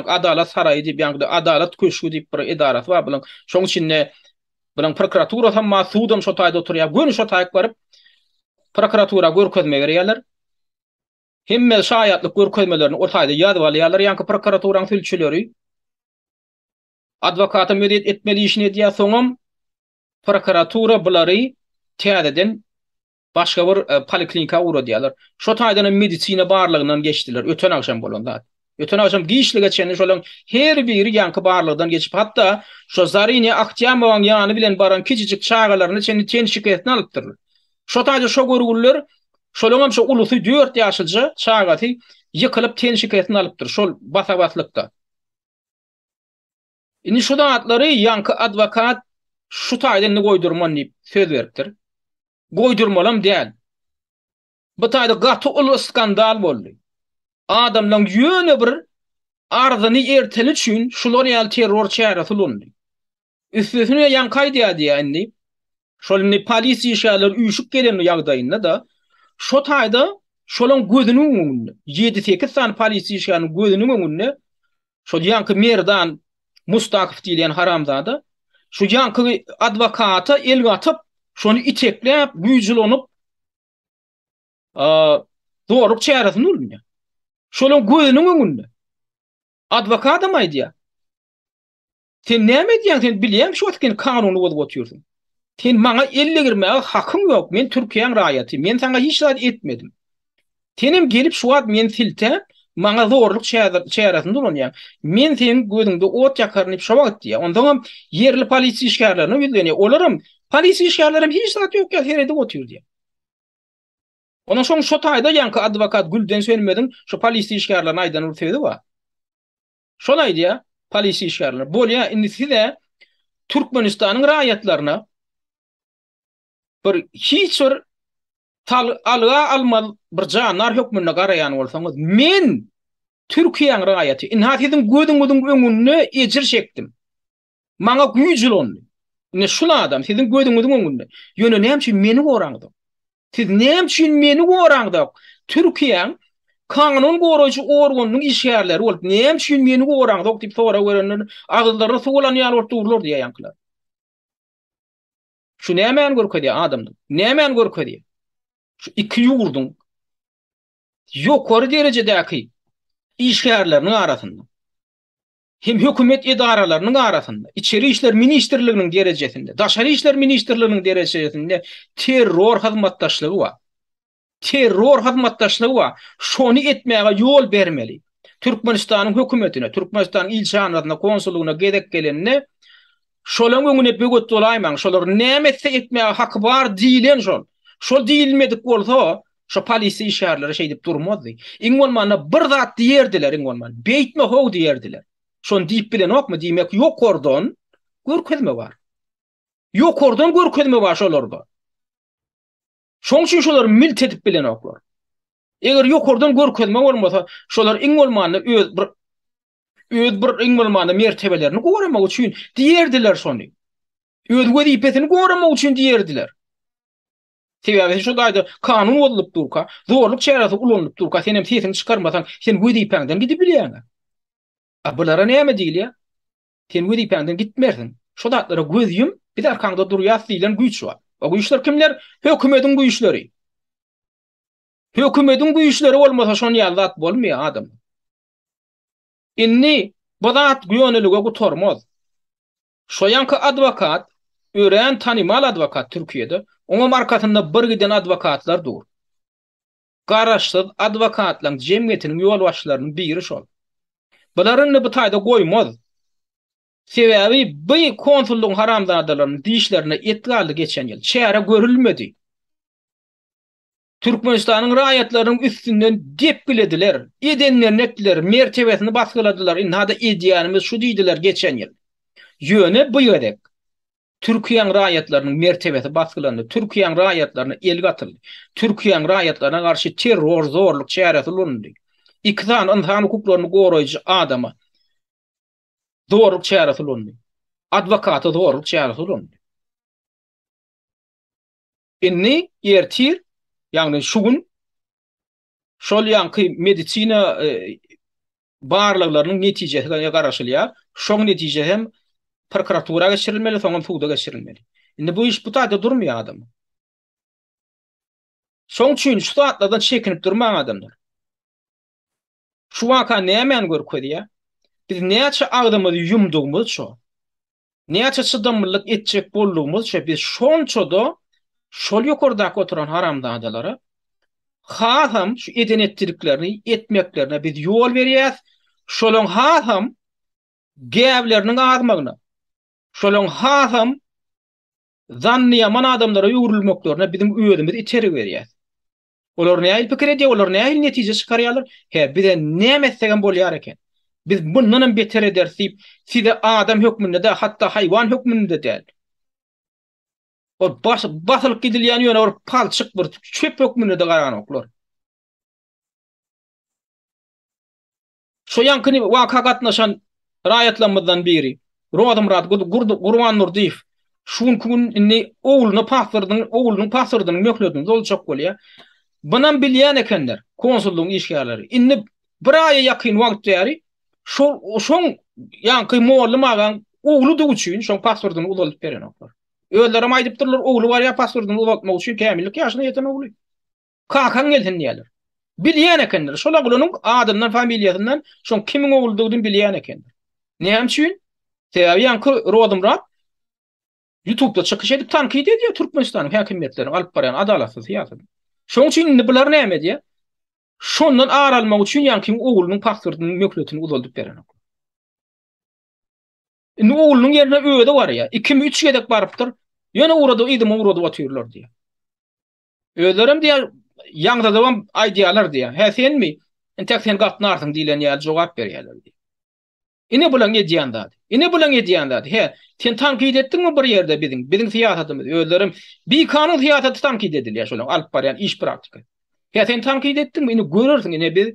Adalat saraýy diýip, ýaňky Adalat köşgi diýip bir edarasy bar bularyň. Şonuň içinde bularyň prokuraturasam bar, sudam şo taýda oturýar. Göni şo taýyk baryp, prokuratura görkezme berýärler. Hemme şaýatlyk görkezmelerini ol taýda ýazyp alýarlar, ýaňky prokuraturaň sülçüleri adwokata müezet etmeli işini edýär, soňam prokuratura bulary täzeden başga bir poliklinika ugradýarlar. Şo taýdan hem medisina barlagyndan geçdiler, öten agşam bolan zat. Öten agşam giçlige çenli şolaryň her biri ýaňky barlagdan geçip, hatda şo Zarine Ahtýamowaň ýany bilen baran kiçijik çagalaryna çenli ten şikesini alypdyrlar. Şo taýda şo görgüliler, şolaryň hem şo ulusy dört ýaşyja çagasy ýykylyp ten şikesini alypdyr şol basa-baslykda. Indi şu zatlary ýaňky adwokat şu taýda indi goýdurman diýip söz beripdir. Goýdurmalam däl. Bu taýda gaty uly skandal boldy. Adamlaň ýöne bir arzyny erteni üçin şular ýaly terror çäresi ulandy. Üstesine ýaňky aýdýardy-ýa indi, şol indi polis işgärleri üýşüp gelen ýagdaýynda-da, şo taýda şolaň gözüniň öňünde, ýedi-sekiz sany polis işgäriniň gözüniň öňünde şol ýaňky Merdan Mustakow diýilýän haramzada şu ýaňky adwokata el gatyp, şony itekläp, güýç ulanyp, zorluk çäresini ulanýar. Şonuň gözüniň öňünde. Adwokadam aýdýar. Sen näme edýäň? Sen bilýäň şu wagt sen kanuny bozup otyrsyň. Sen maňa elle girmäge hakyň ýok. Men Türkiýäň raýaty. Men saňa hiç zat etmedim. Senem gelip şu wagt men silte, maňa zorluk çäresini ulanýaň. Men seniň gözüňde ot ýakaryn diýip şu wagt diýýär. Ondan hem ýerli polisiýa işgärlerine ýüzlenýär. Olaram Polis işgärlerem hiç zat ýok ýaly seredip otyr diýýär. Ondan soň şo taýda ýaňky adwokat Gülden Sönmeziň şo polis işgärlerine aýdan bir sözi bar. Şony aýdýar, polis işgärlerine, bolýar, indi siz-ä Türkmenistanyň raýatlaryna bir hiç bir tal alga almaz bir jandar hökmünde garaýan bolsaňyz, men Türkiýäň raýaty, ynha siziň gözüňiziň öňünde ejir çekdim. Maňa güýç ulandy. Ine şul adam siziň gözüňiziň öňünde. Ýöne näme üçin meni goraňyzok? Siz näme üçin meni goraňyzok? Türkiýäň kanun goraýjy organynyň işgärleri bolup, näme üçin meni goraňyzok diýip sorag berenler, agyzlaryna suw alan ýaly bolup durlar diýýär ýaňkylar. Şu nämäni görkezýär adamlar? Nämäni görkezýär? Şu iki ýurduň ýokary derejedäki işgärleriniň arasynda. hem hökümet edaralarynyň arasynda, Içeri işler ministrliginiň derejesinde, Daşary işler ministrliginiň derejesinde terror hyzmatdaşlygy bar. Terror hyzmatdaşlygy bar. Şony etmäge ýol bermeli. Türkmenistanyň hökümetine, Türkmenistanyň ilçihanasyna, konsullygyna gezek gelende Şolaň öňüne böwet bolaýmaň, şolar näme etse etmäge haky bar diýilen şol. Şol diýilmedik bolsa, şo polisiýa işgärleri şeýdip durmazdy. Iň bolmanda bir zat diýerdiler, iň bolman, beýtme how diýerdiler. Şony diýip bilenokmy, diýmek ýokardan görkezme bar. Ýokardan görkezme bar şolarda. Şoň üçin şolar milt edip bilenoklar. Eger ýokardan görkezme bolmasa, şolar iň bolmanda öz bir Öz bir iň bolmanda mertebelerini goramak üçin diýerdiler şony. Öz wezipesini goramak üçin diýerdiler. Sebäbi şu gaýda kanun bozulup durka, zorluk çäresi ulanylyp durka, sen hem sesiňi çykarmasaň, sen wezipäňden gidip bilýäň. A bulara näme diýilýär? Sen wezipäňden gitmersiň. Şu zatlara göz ýum, biz arkaňda durýas diýlen güýç bar. O güýçler kimler? Hökümetiň güýçleri. Hökümetiň güýçleri bolmasa şon ýaly zat bolmaýar adam. Indi bu zat gönilige gutarmaz. Şoýanka adwokat örän tanymal adwokat Türkiýede, oňam arkasynda bir giden adwokatlar dur. Garaşsyz adwokatlaň jemgyýetiniň ýolbaşçylarynyň biri şol. Bular indi bu taýda goýmaz. Sebäbi bu konsullygyň haramzadalarynyň dişlerine et galdy geçen ýyl, çäre görülmedi. Türkmenistanyň raýatlarynyň üstünden depgilediler, edenlerini etdiler, mertebesini basgyladylar, ynha-da edýänimiz şu diýdiler geçen ýyl. Ýöne bu gezek Türkiýäň raýatlarynyň mertebesi basgylandy, Türkiýäň raýatlaryna el gatyldy, Türkiýäň raýatlaryna garşy terror, zorluk çäresi ulanyldy. Iki sany ynsan hukuklaryny goraýjy adama zorluk çäresi ulanyldy. Adwokata zorluk çäresi ulanyldy. Indi ertir, ýagny şu gün şol ýaňky medisina barlaglarynyň netijesine garaşylýar. Şoň netije hem prokuratura geçirilmeli, soňam suda geçirilmeli. Indi bu iş bu taýda durmaýar adam. Şoň üçin şu zatlardan çekinip durmaň adamlar. Şu waka nämäni görkezýär? Biz näçe agzymyzy ýumdugymyzça, näçe çydamlylyk etjek boldugymyzça biz şonça-da şol ýokardaky oturan haramzadalara hasam şu eden-etdidiklerini etmeklerine biz ýol berýäs, şolaň hasam gäbleriniň azmagyna, şolaň hasam zanny ýaman adamlara öwrülmeklerine biziň özümiz itergi berýäs. Olar nähili pikir edýär, olar nähili netije çykarýarlar? Hä, bize näme etsegem bolýar eken. Biz bundanam beter ederis diýip, size adam hökmünde-de, hatda haýwan hökmünde-de däl. Ol basylyp gidilýän ýöne bir palçyk, bir çöp hökmünde-de garanoklar. Şu ýaňky waka gatnaşan raýatlarymyzdan biri, Rozymyrat Gurbandurdyýew şu günki gün indi ogluny pasportyny, oglunyň pasportynyň möhletini doljak bolýar. Bunam bilýän ekenler konsullygyň işgärleri. Indi bir aýa ýakyn wagt bäri şol şoň ýaňky mugallym agaň ogludygy üçin şoň pasportyny uzaldyp berenoklar. Özlerem aýdypdyrlar, ogly barýar pasportyny uzaltmak üçin kämillik ýaşyna ýeten ogly. Kakaň gelsin diýerler. Bilýän ekenler. Şol oglanyň adyndan, familiýasyndan şoň kimiň ogludygyny bilýän ekenler. Näme üçin? Sebäbi ýaňky Rozymyrat Ýutubda çykyş edip tankyt edýär Türkmenistanyň häkimiýetleriniň alyp barýan adalatsyz syýasatyny. Şoň üçin indi bular näme edýär? Şondan ar almak üçin ýaňky oglunyň pasportynyň möhletini uzaldyp berenok. Indi oglunyň ýerine özi barýar. Ikimi üç gezek barypdyr. Ýöne ugrady, yzyma ugradyp otyrlar diýýär. Özlerem diýýär, ýaňzadybam aýdýarlar diýýär. Hä senmi? Entek sen gatnarsyň diýlen ýaly jogap berýärler diýýär. Ine bulaň edýän zady. Ine bulaň edýän zady. Hä, sen tankyt etdiňmi bir ýerde biziň, biziň syýasatymyzy? Özlerem bikanun syýasaty tankyt edilýär şolaň alyp barýan iş praktika. Hä sen tankyt etdiňmi? Ine görersiň, ine biz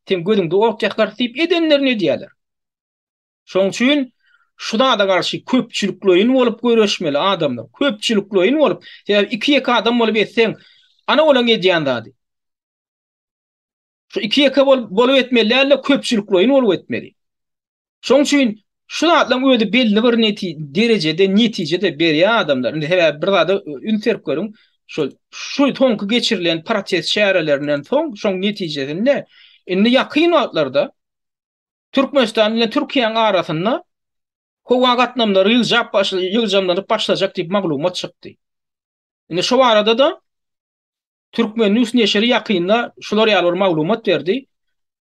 sen gözüňde ot ýakarys diýip edenlerini edýärler. Şoň üçin şu zada garşy köpçülikleýin bolup göreşmeli adamlar. Köpçülikleýin bolup, sebäbi iki-ýeke adam bolup etseň, ana olaň edýän zady. Şu iki-ýeke bolup etmeli däl-de, köpçülikleýin bolup etmeli. Şoň üçin şu zatlaryň özi belli bir derejede netije-de berýär adamlar. Indi sebäbi bir zada üns berip görüň, şol şu soňky geçirilen protest çärelerinden soň, şoň netijesinde indi ýakyn wagtlarda Türkmenistan bilen Türkiýäň arasynda howa gatnamlary ýygjap başlady, ýygjamlanyp başlajak diýip maglumat çykdy. Indi şu barada-da Türkmen News neşiri ýakynda şular ýaly bir maglumat berdi.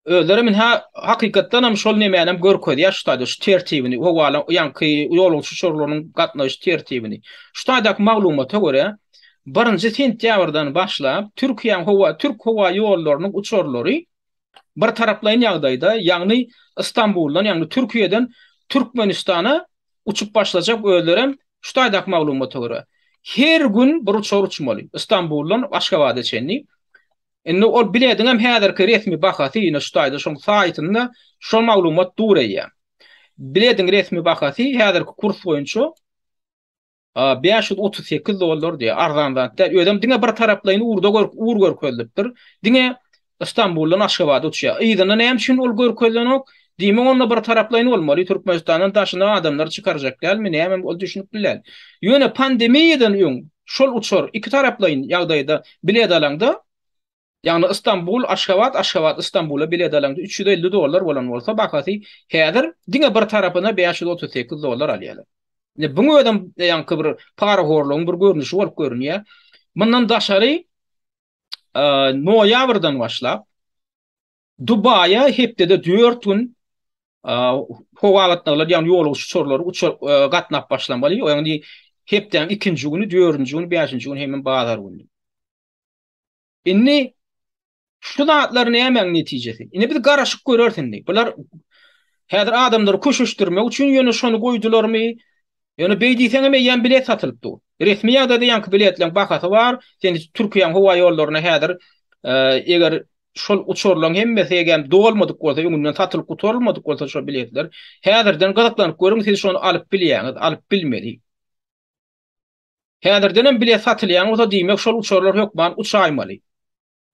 Özleri men ha hakykatdan hem şol nemäni hem görkezýär şu taýda şu tertibini, howala ýaňky ýolagçy uçarlarynyň gatnaýyş tertibini. Şu taýdaky maglumata görä, 1-nji sentýabrdan başlap Türkiýäň howa türk howa ýollarynyň uçarlary bir taraplaýyn ýagdaýda, ýagny Istanbuldan, ýagny Türkiýeden Türkmenistana uçup başlajak özlerem şu taýdaky maglumata görä. Her gün bir uçar uçmaly, Istanbuldan Aşgabada çenli. Indi ol bilediň hem häzirki resmi bahasy ýene şu taýda şoň saýtynda şol maglumat dur eýýäm. Bilediň resmi bahasy häzirki kurs boýunça A bäş ýüz otuz sekiz dollar diýýär, arzan zat däl. Özem diňe bir taraplaýyn urda gör, ur görkezilipdir. Diňe Stambuldan Aşgabada uçýar. Yzyna näme üçin ol görkezilenok? Diýmek, onda bir taraplaýyn bolmaly, Türkmenistandan daşyna adamlary çykarjak dälmi, nämemi, ol düşünip bilän. Ýöne pandemiýadan öň şol uçar iki taraplaýyn ýagdaýda bilet alaňda, Ýagny Istanbul, Aşgabat, Aşgabat, Istanbula bilet alaňda üç ýüz elli dollar bolan bolsa bahasy häzir diňe bir tarapyna bäş ýüz otuz sekiz dollar alýarlar. Indi buň özem ýaňky bir parahorlugyň bir görnüşi bolup görünýär. Mundan daşary noýabrdan başlap Dubaýa hepdede dört gün howa gatnawlary ýagny ýolagçy uçarlary uçar gatnap başlamaly. Ýagny hepdäniň ikinji güni, dördünji güni, bäşinji güni hemem bazar güni. Indi şu zatlar nämäň netijesi? Indi biz garaşyk göreris indi. Bular häzir adamlary köşeşdirmek üçin ýöne şony goýdularmy? Ýöne beý diýseň hem eýýäm bilet satylyp dur. Resmi ýagdaýda ýaňky biletleriň bahasy bar. Sen Türkiýäň howa ýollaryna häzir e, eger şol uçurlaryň hemmesi eger dolmadyk bolsa, öňünden satylyp gutarylmadyk bolsa şol biletler, häzirden gyzyklanyp görüň, siz şony alyp bilýäňiz, alyp bilmeli. Häzirdenem bilet satylýan bolsa diýmek şol uçarlar hökman uçaýmaly.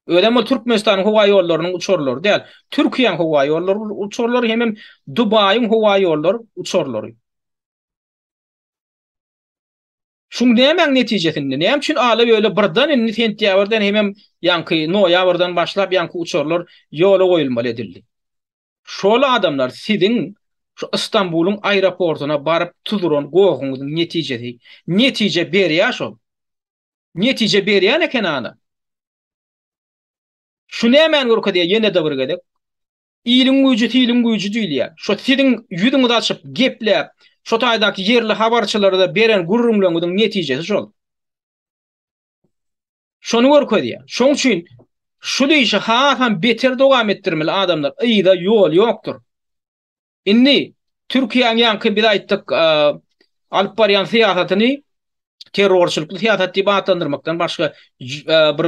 Özem ol Türkmenistanyň howa ýollarynyň uçarlary däl, Türkiýäň howa ýollary uçarlary hemem Dubaýyň howa ýollary uçarlary. Şuň nämäň netijesinde, näme üçin ala böle birden indi sentýabrdan hemem ýaňky noýabrdan başlap ýaňky uçarlar ýola goýulmaly edildi? Şol adamlar siziň şu Istanbulyň aeroportyna baryp tuzuran gohuňyzyň netijesi. Netije berýä şol. Netije berýän eken ana. Şu nämäni görkezýä ýene-de bir gezek? Iliň güýji siliň güýji diýilýä. Şo siziň ýüzüňizi açyp gepläp, şo taýdaky ýerli habarçylara-da beren gürrüňleriňiziň netijesi şol. Şony görkezýär. Şoň üçin şu işi hasam beter dowam etdirmeli adamlar. Yza ýol ýokdur. Indi Türkiýäň ýaňky biz aýtdyk alyp barýan syýasatyny terrorçylykly syýasat diýip atlandyrmakdan başga bir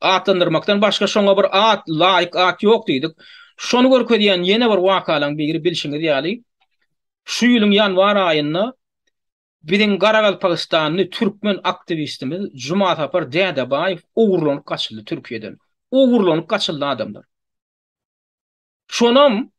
atlandyrmakdan başga şoňa bir at, laýyk at ýok diýdik. Şony görkezýän ýene bir wakalaryň biri bilşiňiz ýaly, şu ýylyň ýanwar aýynda Biziň garagalpagystanly türkmen aktiwistimiz Jumasapar Dädebaýew ogurlanyp gaçyldy Türkiýeden. Ogurlanyp gaçyldy adamlar. Şonam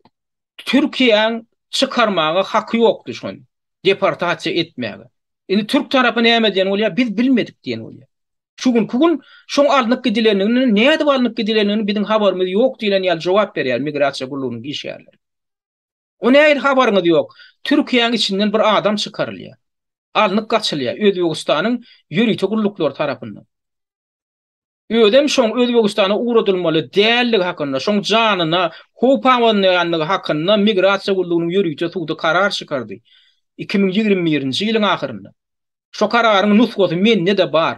Türkiýäň çykarmaga haky ýokdy şony. Deportasiýa etmäge. Indi türk tarapy näme diýen bolýar? Biz bilmedik diýen bolýar. Şu günki gün şoň alnyp gidilendigini, nädip alnyp gidilendigini biziň habarymyz ýok diýlen ýaly jogap berýär migrasiýa gullugynyň işgärleri. O nähili habaryňyz ýok? Türkiýäň içinden bir adam çykarylýar. Alnyp gaçylýar Özbegistanyň ýörite gulluklary tarapyndan. Özem şoň Özbegistana ugradylmaly däldigi hakynda, şoň janyna howp abanýandygy hakynda Migrasiýa gullugynyň ýörite sudy karar çykardy iki müň ýigrimi birinji ýylyň ahyrynda. Şo kararyň nusgasy mende-de bar.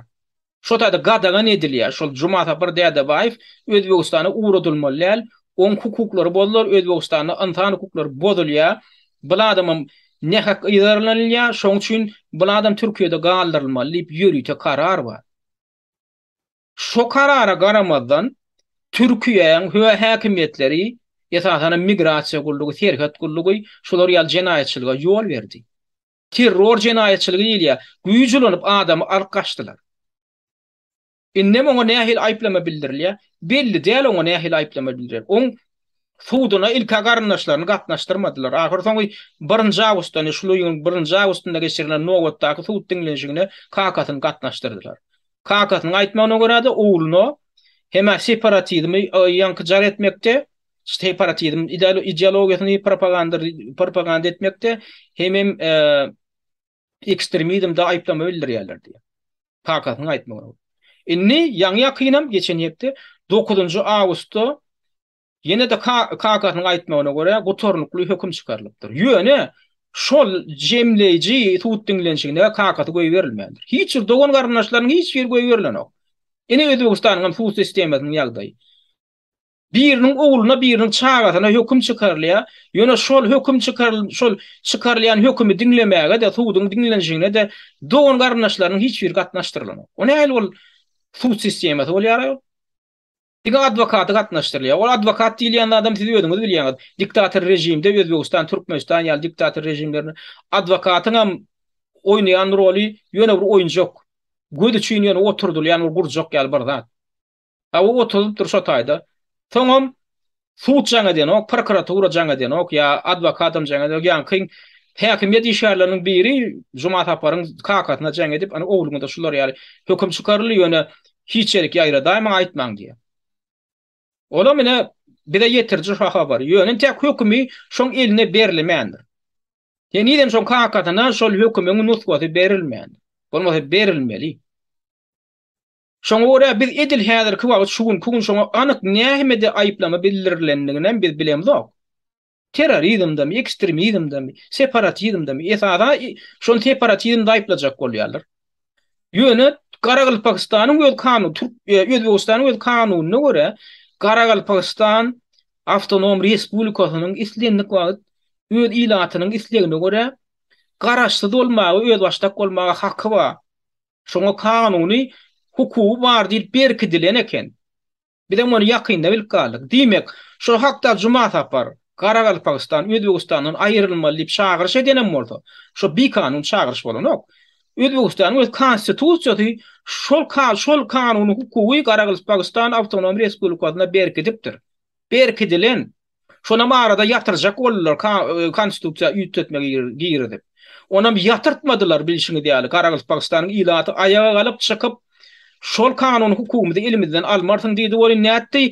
Şo taýda gadagan edilýär. Şol Jumasapar Dädebaýew Özbegistana ugradylmaly däl, oň hukuklary bozular, Özbegistanda ynsan hukuklary bozulýar, bul adamam nähak yzarlanylýar, şoň üçin bul adam Türkiýede galdyrylmaly diýip ýörite karar bar. Şo karara garamazdan Türkiýäň hö häkimiýetleri, esasanam Migrasiýa gullugy, Serhet gullugy şular ýaly jenaýatçylyga ýol berdi. Terror jenaýatçylygy diýilýär. Güýç ulanyp adamy alyp gaçdylar. Indem oňa nähili aýyplama bildirilýär? Belli däl oňa nähili aýyplama bildirilýär. Oň suduna ilk-ä garyndaşlaryny gatnaşdyrmadylar. Ahyrsoňy birinji awgustda, ine şul ýylyň birinji awgustynda geçirilen nobatdaky sud diňlenişigine kakasyny gatnaşdyrdylar. Kakasynyň aýtmagyna görä-de, ogluna hem-ä separatizmi ýaňky jar etmekde, separatizm ideologiýasyny propaganda etmekde hemem ekstremizmde aýyplama bildirýärler diýýär. Kakasynyň aýtmagyna görä. Indi ýaňy-ýakynam geçen hepde 9-njy awgustda ýene-de kakasynyň aýtmagyna görä gutarnykly höküm çykarylypdyr. Ýöne şol jemleýji sud diňlenişigine kakasy goýberilmändir. Hiç bir dogan-garyndaşlarynyň hiç biri goýberilenok. Ine Özbegistanyň hem sud sistemasynyň ýagdaýy. Biriniň ogluna biriniň çagasyna höküm çykarylýar, ýöne şol höküm çykarylan şol çykarylýan hökümi diňlemäge-de, suduň diňlenişigine-de dogan garyndaşlarynyň hiç biri gatnaşdyrylanok. O nähili bol sud sistemasy bolýar aýol? Diňe adwokaty gatnaşdyrylýar. Ol adwokat diýilýän zadam siz özüňiz bilýäňiz. Diktator režimde Özbegistan, Türkmenistan ýaly diktator režimlerinde adwokatyňam oýnaýan roly ýöne bir oýunjak. Göz üçin ýöne oturdylýan bir gurjak ýaly bir zat. Tawy otuzypdyr şo taýda. Soňam sud jaň edenok, prokuratura jaň edenok, ýa adwokadam jaň edenok, ýaňky häkimiýet işgärleriniň biri Juma Saparyň kakasyna jaň edip, ony ogluňyza şular ýaly höküm çykaryldy, ýöne hiç ýerik ýaýradaýmaň, aýtmaň diýen. Olam ine bize ýetiriji şo habary. Ýöne entek hökümi şoň eline berlemändir. Henizem şoň kakasyna şol hökümiň nusgasy berilmändir. Bolmasa berilmeli. Şoňa görä, biz edil häzirki wagt, şu günki gün şoňa anyk nähimede aýyplama bildirilendiginem biz bilemzok. Terrorizmdemi, ekstremizmdemi, separatizmdemi, esasa şony separatizmde aýyplajak bolýarlar. Ýöne Garagalpagystanyň öz kanuny, türk, Özbegistanyň öz kanunyna görä, Garagalpagystan awtonom respublikasynyň islendik wagt öz ilatynyň islegine görä garaşsyz bolmaga, özbaşdak bolmaga haky bar. Şoňa kanuny hukugy bar diýlip berkidilen eken. Bizem ony ýakynda bilip galdyk. Diýmek, şol hakda Juma Sapar, Garagalpagystan Özbegistandan aýrylmaly diýip çagyryş edenem bolsa, şo bikanun çagyryş bolanok. Özbegistanyň öz Konstitusiýasy şol şol kanuny hukugy Garagalpagystan Awtonom Respublikasyna berkidipdir. Berkidilen. Şonam arada ýatyrjak boldular konstitusiýa üýtgetme girizip. Onam ýatyrtmadylar bilşiňiz ýaly Garagalpagystanyň ilaty aýaga galyp çykyp şol kanuny hukugymyzy elimizden almarsyň diýdi welin nätdi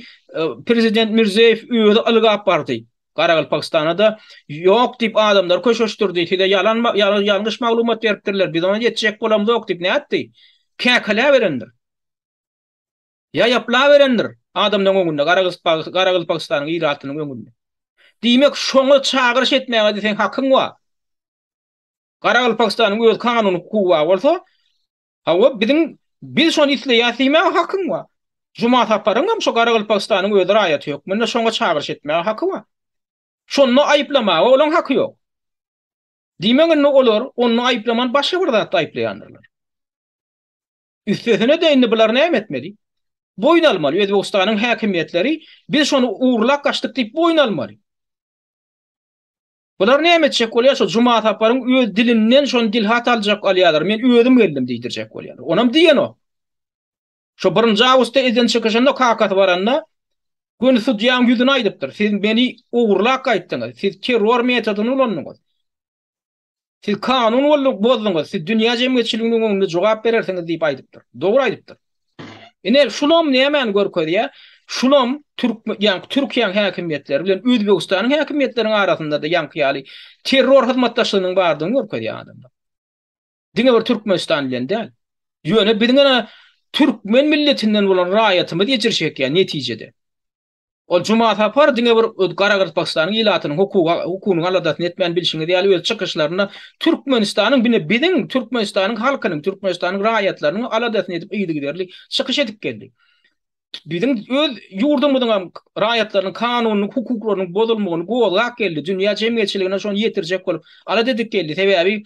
prezident Mirziýoýew özi ylgap bardy Garagalpagystanada ýok diýip adamlary köşeşdirdi size ýalan ýalňyş maglumat beripdirler biz ony etjek bolamzok diýip nätdi käkiläberendir. Ýa ýaplaberendir, adamlaryň öňünde, Garagyspak, Garagylpagystanyň ilatynyň öňünde. Diýmek, şoňa çagyryş etmäge-de seň hakyň bar. Garagylpagystanyň öz kanuny hukugy bar bolsa, hawa, biziň, biz şony isleýäs diýmäge hakyň bar. Juma Saparyň hem şo Garagylpagystanyň öz raýaty hökmünde şoňa çagyryş etmäge haky bar. Şonda aýyplamaga olaň haky ýok. Diýmek, indi olar onda aýyplaman başga bir zatda aýyplaýandyrlar. Üstesine-de indi bular näme etmeli? Boýun almaly. Özbegistanyň häkimiýetleri biz şony ugurlap gaçdyk diýip boýun almaly. Bular näme etjek bolýar? Şo Juma Saparyň öz dilinden şony dilhat aljak alýarlar. Men özüm geldim diýdirjek bolýarlar. Onam diýenok. Şo birinji awgustda elden çykşynda kakasy baranda göni sudýaň ýüzüne aýdypdyr. Siz meni ugurlap gaýtdyňyz. Siz terror metodyny ulandyňyz. Siz kanun bozduňyz, siz dünýä jemgyýetçiliginiň öňünde jogap berersiňiz diýip aýdypdyr. Dogry aýdypdyr. Ine, şulam nämäni görkezýär? Şulam türk, ýa-ni Türkiýäniň häkimiýetleri bilen Özbegistanyň häkimiýetleriniň arasynda-da ýaňky ýaly terror hyzmatdaşlygynyň bardygyny görkezýär adamlar. Diňe bir Türkmenistan bilen däl. Ýöne biziň ene türkmen milletinden bolan raýatymyz ejir çekýär netijede. Ol Juma Sapar diňe bir öz Garagyrpakstanyň ilatynyň hukuga hukunyň aladasyny etmän bilşiňiz ýaly öz çykyşlarynda Türkmenistanyň bine biziň Türkmenistanyň halkynyň Türkmenistanyň raýatlarynyň aladasyny edip yzygiderli çykyş edip geldi. Biziň öz ýurdumyzyňam raýatlarynyň kanunynyň hukuklarynyň bozulmagyny gozgap geldi. Dünýä jemgyýetçiligine şony ýetirjek bolup alada edip geldi. Sebäbi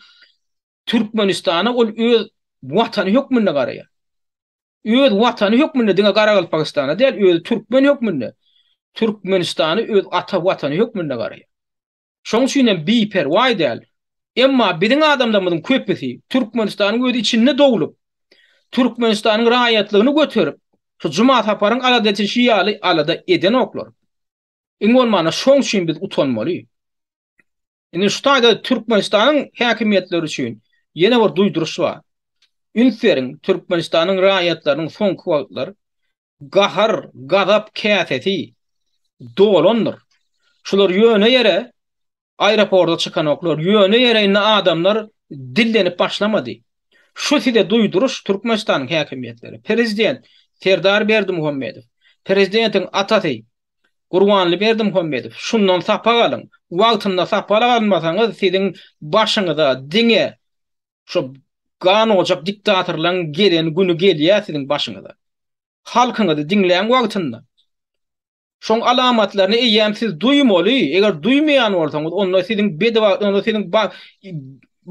Türkmenistana ol öz watany hökmünde garaýar. Öz watany hökmünde diňe Garagalpagystana däl, özi türkmen hökmünde Türkmenistany öz ata watany hökmünde garaýar. Şoň üçin hem biperwaý däl. Emma biziň adamlarymyzyň köpüsi Türkmenistanyň öz içinde doglup, Türkmenistanyň raýatlygyny göterip, şu Juma Saparyň alada edişi ýaly alada edenoklar. Iň bolmanda şoň üçin biz utanmaly. Indi şu taýda Türkmenistanyň häkimiýetleri üçin ýene bir duýduryş bar. Üns beriň, Türkmenistanyň raýatlarynyň soňky wagtlar gahar, gazap käsesi dolandyr. Şular ýöne ýere aeroporta çykanoklar, ýöne ýere indi adamlar dillenip başlamady. Şu size duýduryş Türkmenistanyň häkimiýetleri, prezident Serdar Berdimuhamedow, prezidentiň atasy Gurbanly Berdimuhamedow, şundan sapak alyň. Wagtynda sapalak almasaňyz, siziň başyňyza diňe şo ganojak diktatorlaryň gelen güni gelýär siziň başyňyza. Halkyňyzy diňläň wagtynda. Şoň alamatlaryny eýýäm siz duýmaly, eger duýmaýan bolsaňyz, onda siziň bedewagt, onda siziň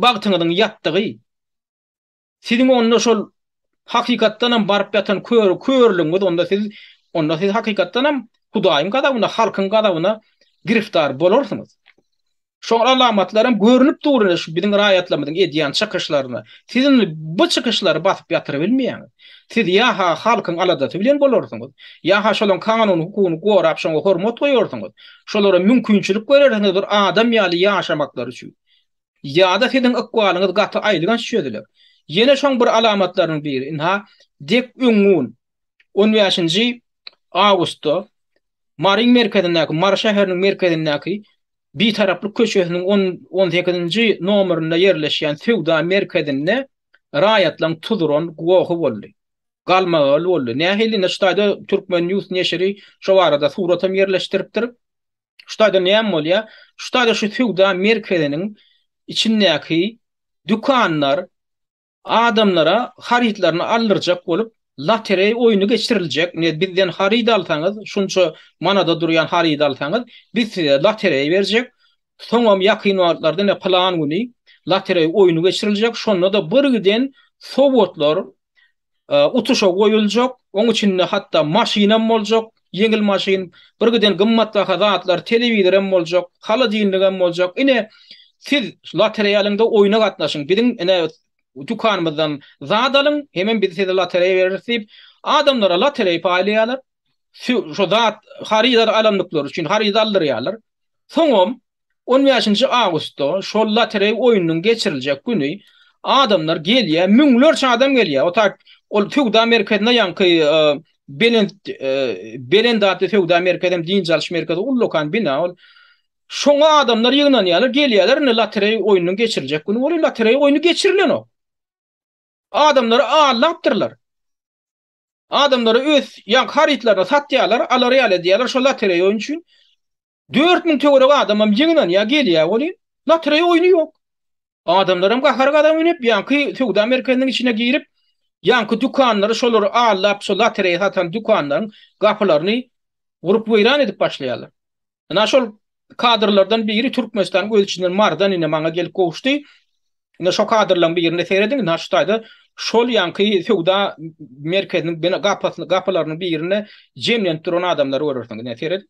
bagtyňyzyň ýatdygy. Siziň onda şol hakykatdanam baryp ýatan kör körlügiňiz onda siz onda siz hakykatdanam Hudaýyň gazabyna halkyň gazabyna giriftar bolarsyňyz. Şol alamatlaram görünip dur indi şu biziň raýatlarymyzyň edýän çykyşlaryna. Siz indi bu çykyşlary basyp ýatyrybilmeýäňiz. Siz ýa-ha halkyň aladasy bilen bolarsyňyz, ýa-ha şolaň kanuny hukugyny gorap şoňa hormat goýarsyňyz, şolara mümkinçilik berersiňiz bir adam ýaly ýaşamaklary üçin. Ýa-da siziň ykbalyňyz gaty aýylganç çözüler. Ýene şoň bir alamatlarynyň biri, ynha, dek öň gün, on bäşinji awgustda Maryň merkezindäki, Mary şäheriniň merkezindäki Bitaraplyk köçesiniň on, on sekizinji nomerinde ýerleşýän söwda merkezinde raýatlaryň tuzuran gohy boldy. Galmagaly boldy. Nähili? Ynha, şu taýda Turkmennews neşiri şo barada suratam ýerleşdiripdir. Şu taýda näme bolýar? Şu taýda şu söwda merkeziniň içindäki dükanlar adamlara harytlaryny aldyrjak bolup, lotereý oýny geçiriljek. Ine, bizden haryt alsaňyz, şunça manada durýan harydy alsaňyz, biz size lotereý berjek. Soňam ýakyn wagtlarda ine plan güni lotereý oýny geçiriljek. Şonda-da birgiden sowgatlar utuşa goýuljak, oň içinde hatda maşynam boljak, ýeňil maşyn, bir giden gymmatbaha zatlar, telewizorem boljak, holodilnigem boljak. Ine, siz lotereýa alyň da oýna gatnaşyň, biziň ine dükanymyzdan zat alyň, hemem biz size lotereýa bereris diýip, adamlara lotereýa paýlaýarlar. Shu zat, haryt alandyklary üçin harydy aldyrýarlar. Soňam On bäşinji awgustda şol lotereý oýnunyň geçiriljek güni adamlar gelýär, müňlerçe adam gelýär. O tak ol söwda merkezine ýaňky belent belent atly söwda merkezi hem dynç alyş merkezi ullakan bina ol. Şoňa adamlar ýygnanýarlar, gelýärler indi lotereý oýnunyň geçiriljek güni bolup lotereý oýny geçirilenok. Adamlary aldapdyrlar. Adamlary öz ýaňky harytlaryny satýarlar, alary ýaly edýärler şo lotereý oýny üçin. Dört müň töweregi adamam ýygnanýar, gelýär welin, lotereýa oýny ýok. Adamlaram gahar gazap münüp, ýaňky söwda merkeziniň içine girip, ýaňky dükanlary şolary aldap, şo lotereýa satan dükanlaryň gapylaryny urup-weýran edip başlaýarlar. Ynha, şol kadrlardan biri Türkmenistanyň öz içinden marydan ine maňa gelip gowuşdy. Ine, şo kadrlaryň birine serediň, ynha, şu taýda şol ýaňky söwda merkeziniň bina gapysyny gapylarynyň birinde jemlenip duran adamlary görersiň. Ine, serediň.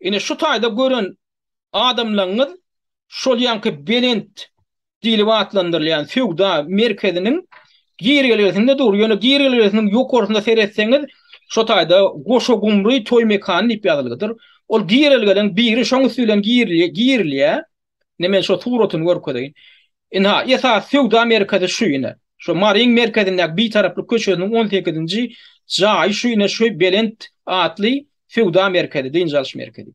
Ine şu taýda gören adamlaryňyz şol ýanky belent diýlip atlandyrylýan söwda merkeziniň girelgesinde dur. Ýöne girelgesiniň ýokarsynda seretseňiz, şu taýda Goşa Gumry toý mekany diýip ýazylydyr. Ol girelgeleň biri şoň üsti bilen girilýär. Ine men şo suratyny görkezeýin. Ynha, esasy söwda merkezi şu ine. Şo Maryň merkezindäki Bitaraplyk köçesiniň on sekizinji jaýy şu ine şu belent atly söwda merkezi, dynç alyş merkezi.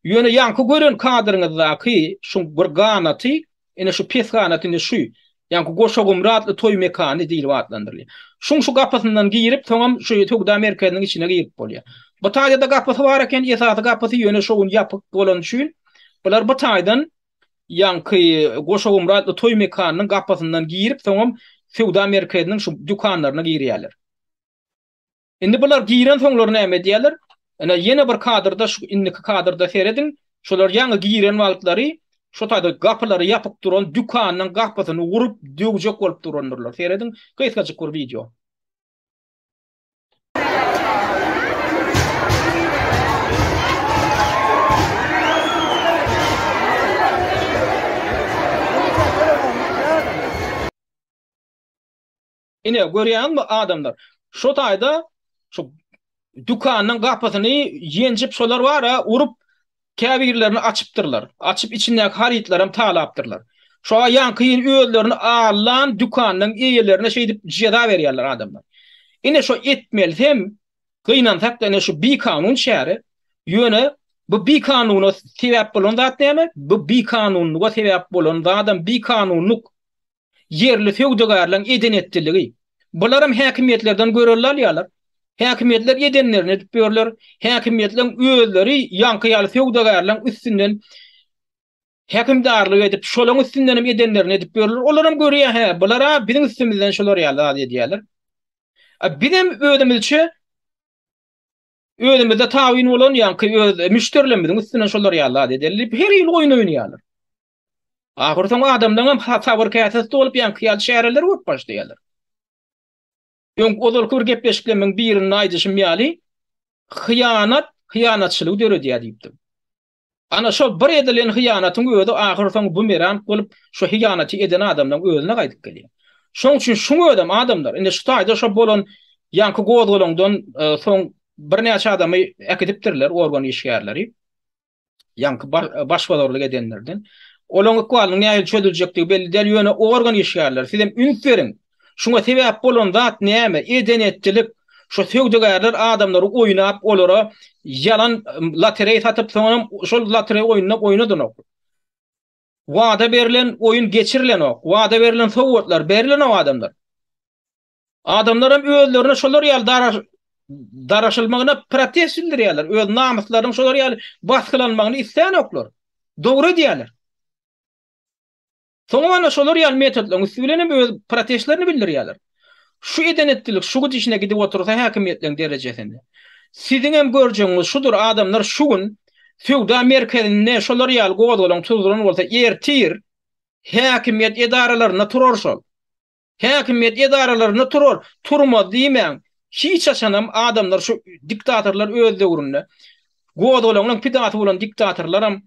Ýöne ýaňky gören kadryňyzdaky şuň bir ganaty, ine şu pes ganaty indi şu. Ýaňky Goşagumry atly toý mekany diýlip atlandyrylýar. Şuň şu gapysyndan girip, soňam şu söwda merkeziniň içine girip bolýar. Bu taýda-da gapysy bar eken, esasy gapysy, ýöne şo gün ýapyk bolany üçin, bular bu taýdan ýaňky Goşagumry atly toý mekanynyň gapysyndan girip, soňam söwda merkeziniň şu dükanlaryna girýärler. Indi bular giren soňlar näme edýärler? Ene ýene bir kadrda şu indiki kadrda serediň. Şular ýaňy giren wagtlary şu taýda gapylary ýapyk duran dükanynyň gapysyny urup döwjek bolup durandyrlar. Serediň gysgajyk bir wideo. Ine, görýäňizmi, adamlar? Şo taýda şu dükanyň gapysyny ýenjip şolar bar-a, urup, käbirlerini açypdyrlar. Açyp, içindäki harytlaram talapdyrlar. Şo-a ýaňky-ýyl özlerini allan dükanyň eýelerine şeýdip jeza berýärler adamlar. Ine, şo etmelis hem, gynansak-da, ine, şu bikanun çäre. Ýöne, bu bikanuna sebäp bolan zat näme? Bu bikanunlyga sebäp bolan zadam bikanunlyk. ýerli söwdagärleriň eden-etdiligi. Bularam häkimiýetlerden görelde alýarlar. Häkimiýetler edenlerini edip ýörler. Häkimiýetleriň özleri ýaňky ýaly söwdagärleriň üstünden häkimdarlyk edip, şolaryň üstündenem edenlerini edip ýörler. Olaram görýär, hä, bular-a biziň üstümizden şular ýaly zat edýärler. A bizem özümizçe özümizde tabyn bolan ýaňky öz müşderilerimiziň üstünden şolar ýaly zat edeli diýip, her ýyl oýun oýnaýarlar. Ahyrsoňy adamlaryňam sabyr käsesi dolup ýaňky ýaly çäreleri bolup başlaýarlar. Öň ozalky bir gepleşiklerimiň birinde aýdyşym ýaly, hyýanat hyýanatçylygy döredýär diýipdim. Ana şol bir edilen hyýanatyň özi ahyrsoňy bumerang bolup, şu hyýanaty eden adamlaryň özüne gaýdyp gelýär. Şoň üçin şuň özem adamlar, indi şu taýda şo bolan ýaňky gozgalaňdan soň birnäçe adamy äkidipdirler organ işgärleri. ýaňky başbozarlyk edenlerden. Olaryň ykbalynyň nähili çözüljekdigi belli däl, ýöne organ işgärleri siz hem üns beriň. Şuňa sebäp bolan zat näme? Eden-etdilik. Şo söwdagärler adamlary oýnap, olara ýalan lotereý satyp, soňam şol lotereý oýnunda oýnadanok. Wada berlen oýun geçirilenok. Wada berlen sowgatlar berilenok adamlara. Adamlaram özlerine şolar ýaly daraş daraşylmagyna protest bildirýärler. Öz namyslarynyň şolar ýaly basgylanmagyny isleýänoklar. Dogry edýärler. Soňam ana şolar ýaly metodlaryň üsti bilen hem öz protestlerini bildirýärler. Şu eden etdilik şu gidişine gidip otursa häkimiýetleriň derejesinde. Siziň hem görjegiňiz şudur adamlar şu gün söwda merkezinde şolar ýaly gozgalaň tuzduran bolsa ertir häkimiýet edaralarynda turar şol. Häkimiýet edaralarynda turar, turmaz diýmäň. Hiç haçanam adamlar şu diktatorlar öz döwründe, gozgalaňlaň pidasy bolan diktatorlaram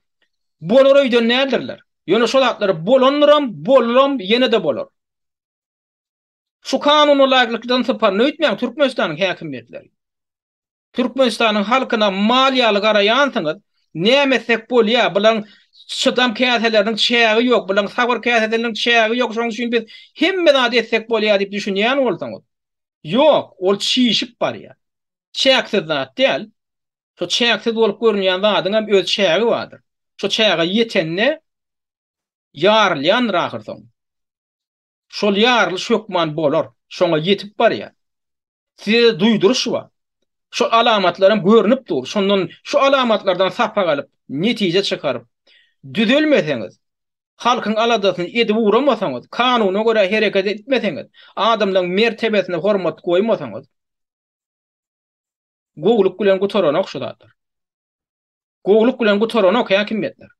bolar öýden däldirler. Ýöne şo zatlar bolandyram, bolaram, ýene-de bolar. Şu kanuna laýyklykdan sypar, öýtmäň Türkmenistanyň häkimiýetleri. Türkmenistanyň halkyna mal ýaly garaýansyňyz, näme etsek bolýa, bulaň çydam käseleriniň çägi ýok, bulaň sabyr käsedeliniň çägi ýok, şoň üçin biz hemme zady etsek bolýa diýip düşünýän bolsaňyz, ýok, ol çişip barýa. Çäksiz zat däl. Şo çäksiz bolup görünýän zadyňam öz çägi bardyr. Şo çäge ýetende ýarylýandyr ahyrsoňy. Şol ýarylyş hökman bolar, şoňa ýetip barýar. Size-de duýduryş bar. Şol alamatlaram görnüp dur. Şondan, şu alamatlardan sapak alyp, netije çykaryp, düzelmeseňiz, halkyň aladasyny edip ugramasaňyz, kanuna görä hereket etmeseňiz, adamlaryň mertebesine hormat goýmasaňyz, gowulyk bilen gutaranok şu zatlar. Gowulyk bilen gutaranok häkimiýetler.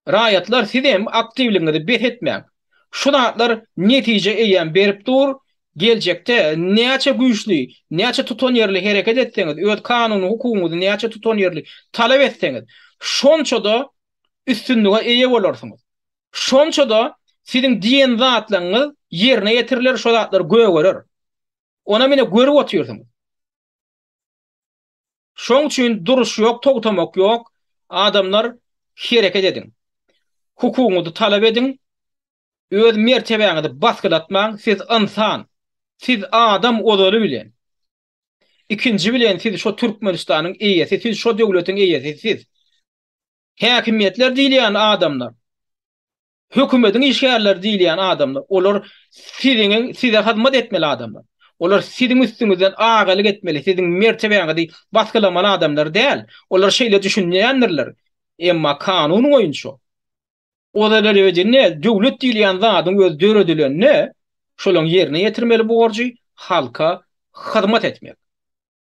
Raýatlar sizem aktiwligiňizi bes etmäň. Şu zatlar netije eýýäm berip dur, geljekde näçe güýçli, näçe tutanýerli hereket etseňiz, öz kanuny hukugyňyzy näçe tutanýerli talap etseňiz, şonça-da üstünlige eýe bolarsyňyz. Şonça-da siziň diýen zatlaryňyz ýerine ýetiriler, şo zatlar gögerer. Onam ine görüp otyrsyňyz. Şoň üçin duruş ýok, togtamak ýok, adamlar hereket ediň. Hukugyňyzy talap ediň, öz mertebäňizi basgylatmaň, siz ynsan, siz adam ozaly bilen. Ikinji bilen siz şo Türkmenistanyň eýesi, siz şo döwletiň eýesi, siz. Häkimiýetler diýilýän adamlar Hökümediň işgärleri diýilýän adamlar, olar siziň, size hyzmat etmeli adamlar. Olar siziň üstüňizden agalyk etmeli, siziň mertebäňizi basgylamaly adamlar däl. Olar şeýle düşünýändirler. Emma kanun boýunça, ozalelewedinne döwlet diýilýän zadyň özi döredilende, şolaň ýerine ýetirmeli borjy halka hyzmat etmek.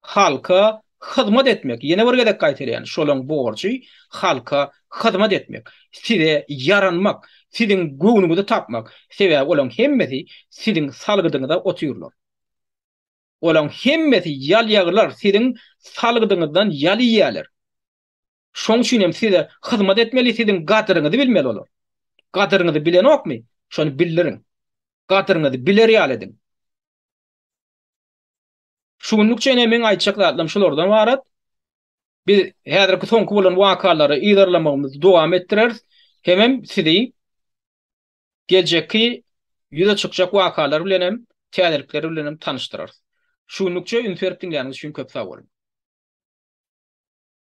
Halka hyzmat etmek, ýene bir gezek gaýtalaýan, şolaň borjy, halka hyzmat etmek, size ýaranmak, siziň göwnüňizi tapmak, sebäbi olaň hemmesi siziň salgydyňyza otyrlar. Olaň hemmesi ýalýaglar siziň salgydyňyzdan ýal iýýärler. Şoň üçin hem size hyzmat etmeli, siziň gadyryňyzy bilmeli olar. Gadyryňyzy bilenokmy, şony bildiriň. Gadyryňyzy biler ýaly ediň. Şu günlük çenli meň aýtjak zatlarym şulardan ybarat. Biz häzirki soňky bolan wakalary yzarlamagymyzy dowam etdireris. Hemem sizi geljekki ýüze çykjak wakalar bilen hem, täzelikler bilen hem tanyşdyrarys. Şu günlükçe üns berip diňläniňiz üçin köp sag boluň.